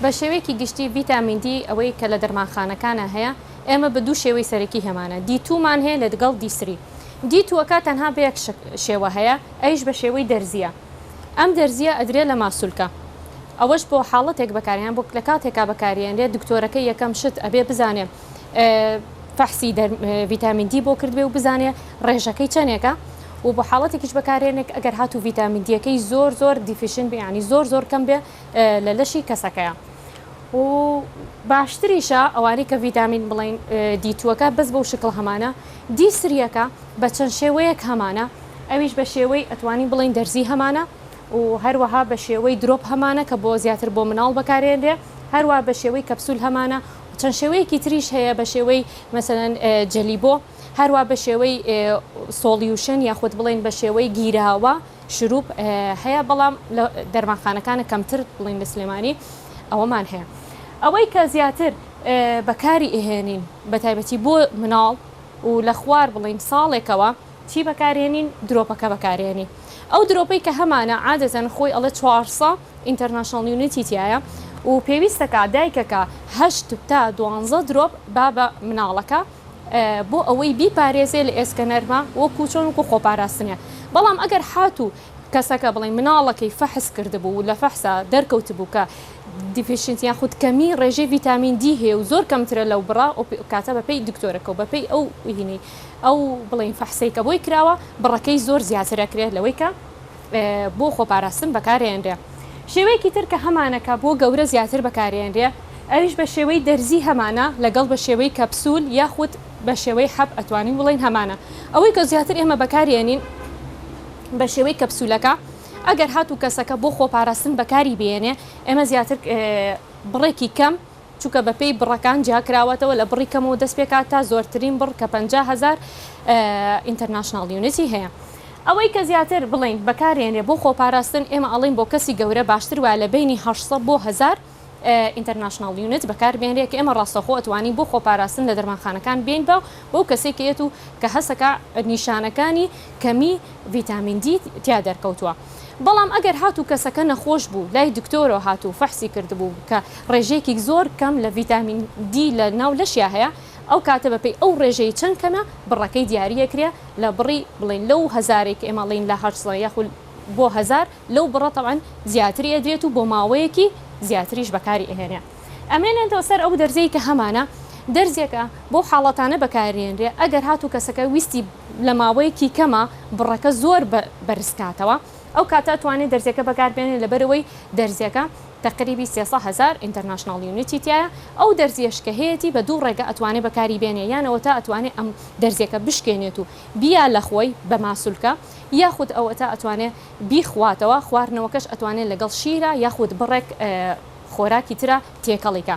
بە شێوەیەکی گشتی ڤیتامین دی ئەوەی کە لە دەرمانخانەکانا هەیە ئێمە بە دوو شێوەی سەرەکی هێمانە دی توو مان هەیە لەدگەڵ دی سری دی تووەکە تەنها بە یەک شێوە هەیە ئەویش بە شێوەی دەرزییە ئەم دەرزییە ئەدرێ لە ماسولکە ئەوەش بۆ حاڵەتێک بەکارهێنان بۆ لە کاتێکا بەکارێنرێ دکتۆرەکە یەکەم شت ئەبێ بزانێ فەحسی دەر ڤیتامین دی بۆ کردبێ و بزانێ ڕێژەکەی چەندێکە و بۆ حاڵەتێکیش بەکارێنێک ئەگەر هاتوو ڤیتامین دیەکەی زۆر زۆر دیفیشن بێ ینی زۆر زۆر کەم بێ لە لەشی کەسەکەیە و باشتریشە ئەوانی کە ڤیتامین بڵین دیتووەکە بەس بەو شکڵ هەمانە دی سریەکە بە چەند شێوەیەک هەمانە ئەویش بە شێوەی ئەتوانی بڵین دەرزی هەمانە و هەروەها بە شێوەی درۆپ هەمانە کە بۆ زیاتر بۆ مناڵ بەکارێنرێ هەروە بە شێوەی کەپسول هەمانە چەند شێوەیەکی تریش هەیە بە شێوەی مەسەن جەلی بۆ هەروە بە شێوەی سۆڵیوشن یاخود بڵین بە شێوەی گیراوە شروب، هەیە بەڵام لە دەرمانخانەکانە کەمتر بڵێن لە سلێمانی ئەوەمان هەیە ئەوەی کە زیاتر بەکاری ئەهێنین بە تایبەتی بۆ مناڵ و لە خوار بڵێن ساڵێکەوە چی بەکارێنین درۆپەکە بەکارێنین ئەو درۆپەی کە هەمانە عادەتەن خۆی ئەڵێ چوارسە ئینتەرناشناڵ یونیتی تیایە و پێویستەکە دایکەکە هەشت تا دوانزە درۆپ با بە مناڵەکە. بۆ ئەوەی بیپارێزێ لە ئێسکە نەرمە وەکو چۆن وەکو خۆپاراستنە بەڵام ئەگەر حاتوو کەسەکە بڵێن مناڵەکەی فەحس کردبوو و لە فەحسا دەرکەوتبوو کە دیفیشنت یان خود کەمی ڕێژەی ڤیتامین دی هەیە و زۆر کەمترە لەو بڕە ئەو کاتە بە پێی دکتۆرەکە و بە پێی ئەو هینەی ئەو بڵێن فەحسەی کە بۆی کراوە بڕەکەی زۆر زیاتر ئەکرێت لەوەی کە بۆ خۆپاراستن بەکارئەنرێ. شێوەیەکی تر کە هەمانە کە بۆ گەورە زیاتر بەکارئەنرێ ئەویش بە شێوەی دەرزی هەمانە لەگەڵ بە شێوەی کەپسول یاخود بە شێوەی حەب ئەتوانین بڵێین هەمانە ئەوەی کە زیاتر ئێمە بەکاریئەنین بە شێوەی کەپسولەکە ئەگەر هاتوو کەسەکە بۆ خۆپاراستن بەکاری بێنێ ئێمە زیاتر بڕێکی کەم چونکە بە پێی بڕەکان جیاکراوەتەوە لە بڕی کەمەوە دەست پێکات تا زۆرترین بڕ کە پەنجا هەزار ئینتەرناشناڵ یونیتی هەیە. ئەوەی کە زیاتر بڵێین بەکارێنرێ بۆ خۆپاراستن ئێمە ئەڵێین بۆ کەسی گەورە باشتر وایە لە بەینی هەشت سەد بۆ هەزار ئینتەرناشناڵ یونیت بەکاربێنرێ کە ئێمە ڕاستەوخۆ ئەتوانین بۆ خۆپاراستن لە دەرمانخانەکان بێین بە بەو کەسەی کە یەت و کە هەستەکا نیشانەکانی کەمی ڤیتامین دی تیا دەرکەوتووە بەڵام ئەگەر هات و کەسەکە نەخۆش بوو لای دکتۆرەوە هات و فەحسی کردبوو کە ڕێژەیەکیک زۆر کەم لە ڤیتامین دی لە ناو لەشیا هەیە ئەو کاتە بە پێی ئەو ڕێژەی چەند کەمە بڕەکەی دیاری ئەکرێ لە بڕی بڵێن لەو هەزارەی کە ئێمە ئەڵێین لە هەشت سەد یاخو بۆ هەزار لەو بڕە تەبعەن زیاتری ئەدرێت و بۆ ماوەیەکی زیاتریش بەکاری ئەهێنێ. ئەمێنێتەوە سەر ئەو دەرزەی کە هەمانە دەرزێکە بەو حاڵەتانە بەکاردێنرێ ئەگەر هاتوو کەسەکە ویستی لە ماوەیەکی کەما بڕەکە زۆر بەرزکاتەوە ئەو کاتە توانێ دەرزێکە بەکاربێنێ لەبەرئەوەی دەرزێکە تەقریبی سێ سە هەزار ئینتەرناشناڵ یونیتی تیایە ئەو دەرزیەش کە هەیەتی بە دوو ڕێگە ئەتوانێ بەکاری بێنێ یان ئەوەتا ئەتوانێ ئەم دەرزێکە بشکێنێت و بیا لە خۆی بە ماسولکە یاخود ئەوەتا ئەتوانێ بیخواتەوە خواردنەوەکەش ئەتوانێ لەگەڵ شیرە یاخود بڕێک خۆراکی ترە تێکەڵی کە.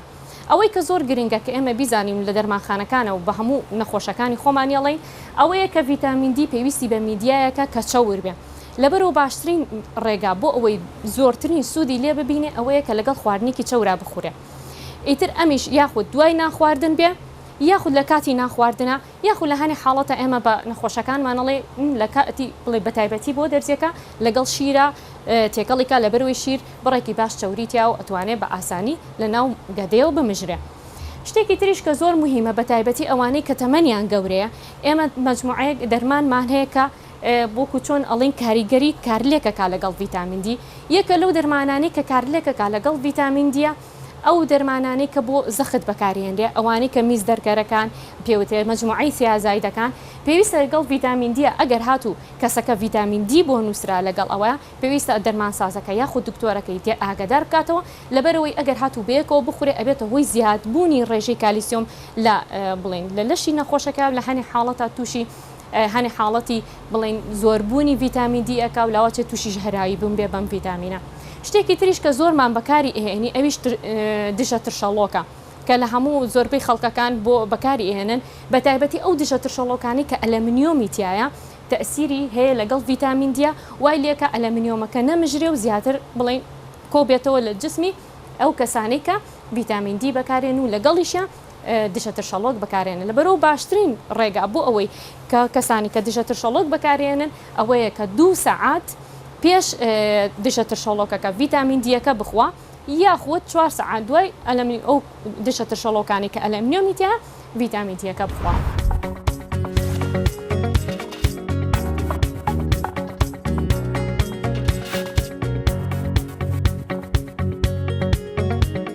ئەوەی کە زۆر گرنگە کە ئێمە بیزانین لە دەرمانخانەکانە و بە هەموو نەخۆشەکانی خۆمانی ئەڵێین ئەوەیە کە ڤیتامین دی پێویستی بە میدیایەکە کە چەور بێ لەبەرو باشترین ڕێگا بۆ ئەوەی زۆرترین سوودی لێ ببینێ ئەوەیە کە لەگەڵ خواردنێکی چەورا بخورێ ئیتر ئەمیش یاخود دوای نان خواردن بێ یاخود لە کاتی نان خواردنا یاخو لە هەنێ حاڵەتا ئێمە بە نەخۆشەکانمان ئەڵێ م لە کا تی بڵێ بە تایبەتی بۆ دەرزیەکە لەگەڵ شیرا تێکەڵی کا لەبەر وەی شیر بڕێکی باش چەوری تیا و ئەتوانێ بە ئاسانی لە ناو گەدەیەوە بمژرێ. شتێکی تریش کە زۆر موهیمە بە تایبەتی ئەوانەی کە تەمەنیان گەورەیە ئێمە مەجموعەیەک دەرمانمان هەیە کە وەکو چۆن ئەڵێن کاریگەری کارلێکە کا لەگەڵ ڤیتامین دی یەکە لەو دەرمانانەی کە کارلێکە کا لەگەڵ ڤیتامین دیە. ئەو دەرمانانەی کە بۆ زەخت بەکاریێنرێ، ئەوانەی کە میز دەرکەرەکان پێ وترێ، مەجموعەی تیازایدەکان، پێویستە لەگەڵ ڤیتامین دیە، ئەگەر هاتوو کەسەکە ڤیتامین دی بۆ نووسرا لەگەڵ ئەوە، پێویستە دەرمانسازەکە یاخود دکتۆرەکەی تێ ئاگەدار بکاتەوە، لەبەرئەوەی ئەگەر هاتوو بەیەکەوە بخورێ ئەبێتە هۆی زیادبوونی ڕێژەی کالیسیۆم لە بڵێن لە لەشی نەخۆشەکە لە هەنێ حاڵەتا تووشی هەنێ حاڵەتی بڵێین زۆربوونی ڤیتامین دی ئەکا و لاواچێ تووشی ژەهراوی بوون بێ بەم ڤیتامینە شتێکی تریش کە زۆرمان بەکاری ئەهێنی ئەویش دژە ترشەڵۆکە کە لە هەموو زۆربەی خەڵکەکان بۆ بەکاری ئێنن بە تایبەتی ئەو دژە ترشەڵۆکانی کە ئەلەمنیۆمی تایە تەسیری هەیە لەگەڵ ڤیتامین دیە وای لێکە ئەلەمنیۆمەکە نەمژرێ و زیاتر بڵین کۆبێتەوە لە جسمی ئەو کەسانی کە ڤیتامین دی بەکارێن و لەگەڵیشە دژە ترشەڵۆک بەکارێنن لە بەرۆ باشترین ڕێگا بۆ ئەوەی کە کەسانی کە دژە ترشەڵۆک بەکارێنن ئەوەیە کە دوو سەعات پێش دژە ترشەڵۆکەکە ڤیتامین دیەکە بخوا یاخود چوار سەعات دوای ئەلەمی ئەو دژە ترشەڵۆکانی کە ئەلەمنیۆمی تیا ڤیتامین دیەکە بخوا.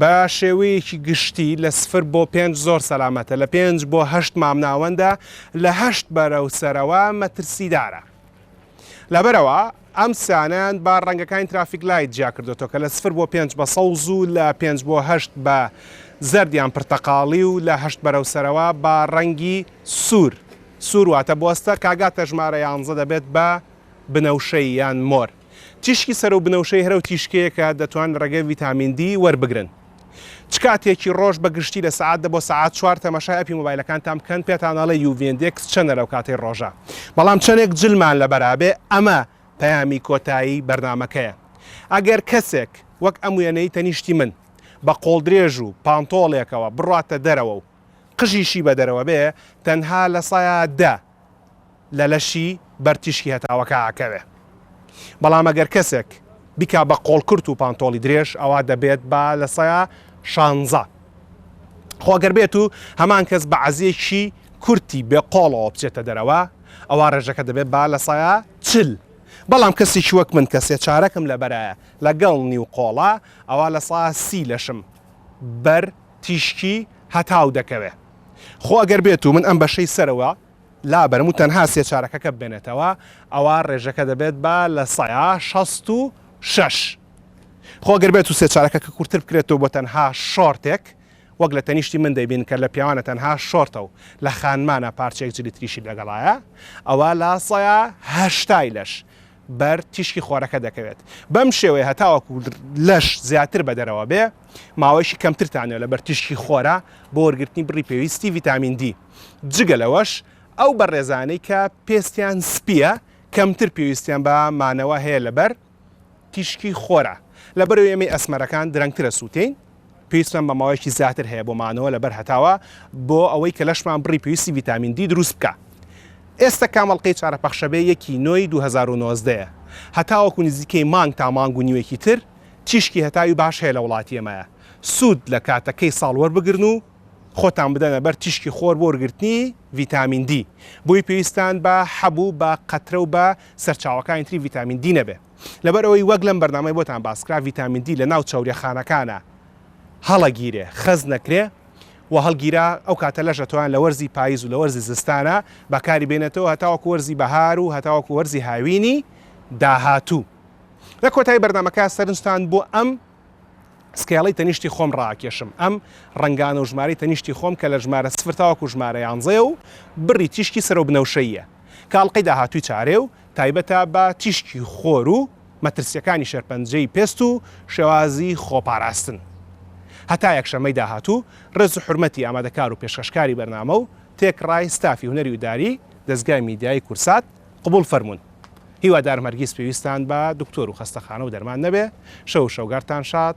بە شێوەیەکی گشتی لە سفر بۆ پێنج زۆر سەلامەتە، لە پێنج بۆ هەشت مامناوەندە، لە هەشت بەرەو سەرەوە مەترسیدارە. لەبەرئەوە ئەم سیانەیان بە ڕەنگەکانی ترافیک لایت جیا کردۆتەوە کە لە سفر بۆ پێنج بە سەوز و لە پێنج بۆ هەشت بە زەرد یان پرتەقاڵی و لە هەشت بەرەو سەرەوە بە ڕەنگی سوور، سوور واتە بۆستە، کە ئەگاتە ژمارە یانزە دەبێت بە بنەوشەی یان مۆر. تیشکی سەرو بنەوشەی هەرەو تیشکێکە دەتوان رەگەی ڤیتامین دی وەربگرن چ کاتێکی رۆژ بە گشتی لە سەعات دە بۆ سەعات چوار تەمەشای ئەپی مۆبایلەکانتان بکەن پێتان ئەڵێ یو ڤی ئیندێکس چەنە لەو کاتەی رۆژە بەڵام چەنێک جلمان لەبەرا بێ ئەمە پەیامی کۆتایی بەرنامەکەیە ئەگەر کەسێک وەک ئەم وێنەی تەنیشتی من بە قۆڵدرێژ و پانتۆڵێکەوە بڕواتە دەرەوە و قژیشی بە دەرەوە بێ تەنها لە سەعات دە لە لەشی بەر تیشکی هەتاوەکە ئەکەوێ بەڵام ئەگەر کەسێک بیکا بە قۆڵ کورت و پانتۆڵی درێژ ئەوا دەبێت با لە سەیا شانزە خۆ گەر بێت و هەمان کەس بە عەزیەکی کورتی بێ قۆڵەوە بچێتە دەرەوە ئەوا ڕێژەکە دەبێت با لە سەیا چل بەڵام کەسێکی وەک من کە سێ چارەکم لەبەرایە لەگەڵ نیو قۆڵە ئەوا لە سەیا سی لەشم بەر تیشکی هەتاو دەکەوێت خۆ ئەگەر بێتو من ئەم بەشەی سەرەوە لابەرم و تەنها سێ چارەکەکە بمێنێتەوە ئەوا ڕێژەکە دەبێت بە لە سەیا شەست و شەش خۆ ئەگەر بێتو سێ چارەکەکە کورتر بکرێتەوە بۆ تەنها شۆرتێک وەک لە تەنیشتی من دەیبین کە لە پیاوانە تەنها شۆرتە و لە خانمانە پارچەیەک جلی تریشی لەگەڵایە ئەوا لە سەیا هەشتای لەش بەر تیشکی خۆرەکە دەکەوێت بەم شێوەیە هەتاوەکو لەش زیاتر بە دەرەوە بێ ماوەیشی کەمترتانەوە لە بەر تیشکی خۆرە بۆ وەرگرتنی بڕی پێویستی ڤیتامین دی جگە لەوەش ئەو بەڕێزانەی کە پێستیان سپیە کەمتر پێویستیان بە مانەوە هەیە لەبەر تیشکی خۆرە لەبەرو ئێمەی ئەسمەرەکان درەنگترە سووتین پێویستمان بە ماوەیەکی زیاتر هەیە بۆ مانەوە لەبەر هەتاوە بۆ ئەوەی کە لەشمان بڕی پێویستی ڤیتامین دی دروست بکا. ئێستە کام ئەڵقەی چارە پەخشەبێ یەکی نۆی دوو هەزار و نۆزدە یە هەتاوەکو نزیکەی مانگ تا مانگ و نیوێکی تر تیشکی هەتاوی باش هەیە لە وڵاتی ئێمەیا سود لە کاتەکەی ساڵ وەربگرن و خۆتان بدەنە بەر تیشکی خۆر بۆ وەرگرتنی ڤیتامین دی بۆی پێویستان بە حەبو بە قەترەو بە سەرچاوەکانی تری ڤیتامین دی نەبێ. لەبەر ئەوەی وەک لەم بەرنامەی بۆتان باس کرا ڤیتامین دی لەناو چەوریە خانەکانە هەڵە گیرێ خەز نەکرێ و هەڵگیرا ئەو کاتە لەش ئەتوان لە وەرزی پاییز و لە وەرزی زستانە بەکاری بێنێتەوە هەتاوەکو وەرزی بەهار و هەتاوەکو وەرزی هاوینی داهاتوو لە کۆتایی بەرنمەکە سەرنجتان بۆ ئەم سکێڵی تەنیشتی خۆم ڕاکێشم ئەم ڕنگانە و ژمارەی تەنیشتی خۆم کە لە ژمارە سفرتاوەکو ژمارە یانزەیە و بڕی تیشکی سەرۆ بنەوشەیە کاڵقەی داهاتووی چارێ و تایبەتە بە تیشکی خۆر و مەترسیەکانی شێرپەنجەی پێست و شێوازی خۆپاراستن. هەتا یەکشەممەی داهاتوو ڕێز و حورمەتی ئامادەکار و پێشکەشکاری بەرنامە و تێکڕای ستافی هونەری و داری دەزگای میدیایی کورسات قبوڵ فەرموون. هیوادارم هەرگیز پێویستتان بە دکتۆر و خەستەخانە و دەرمان نەبێ. شەو و شەوگارتان شاد.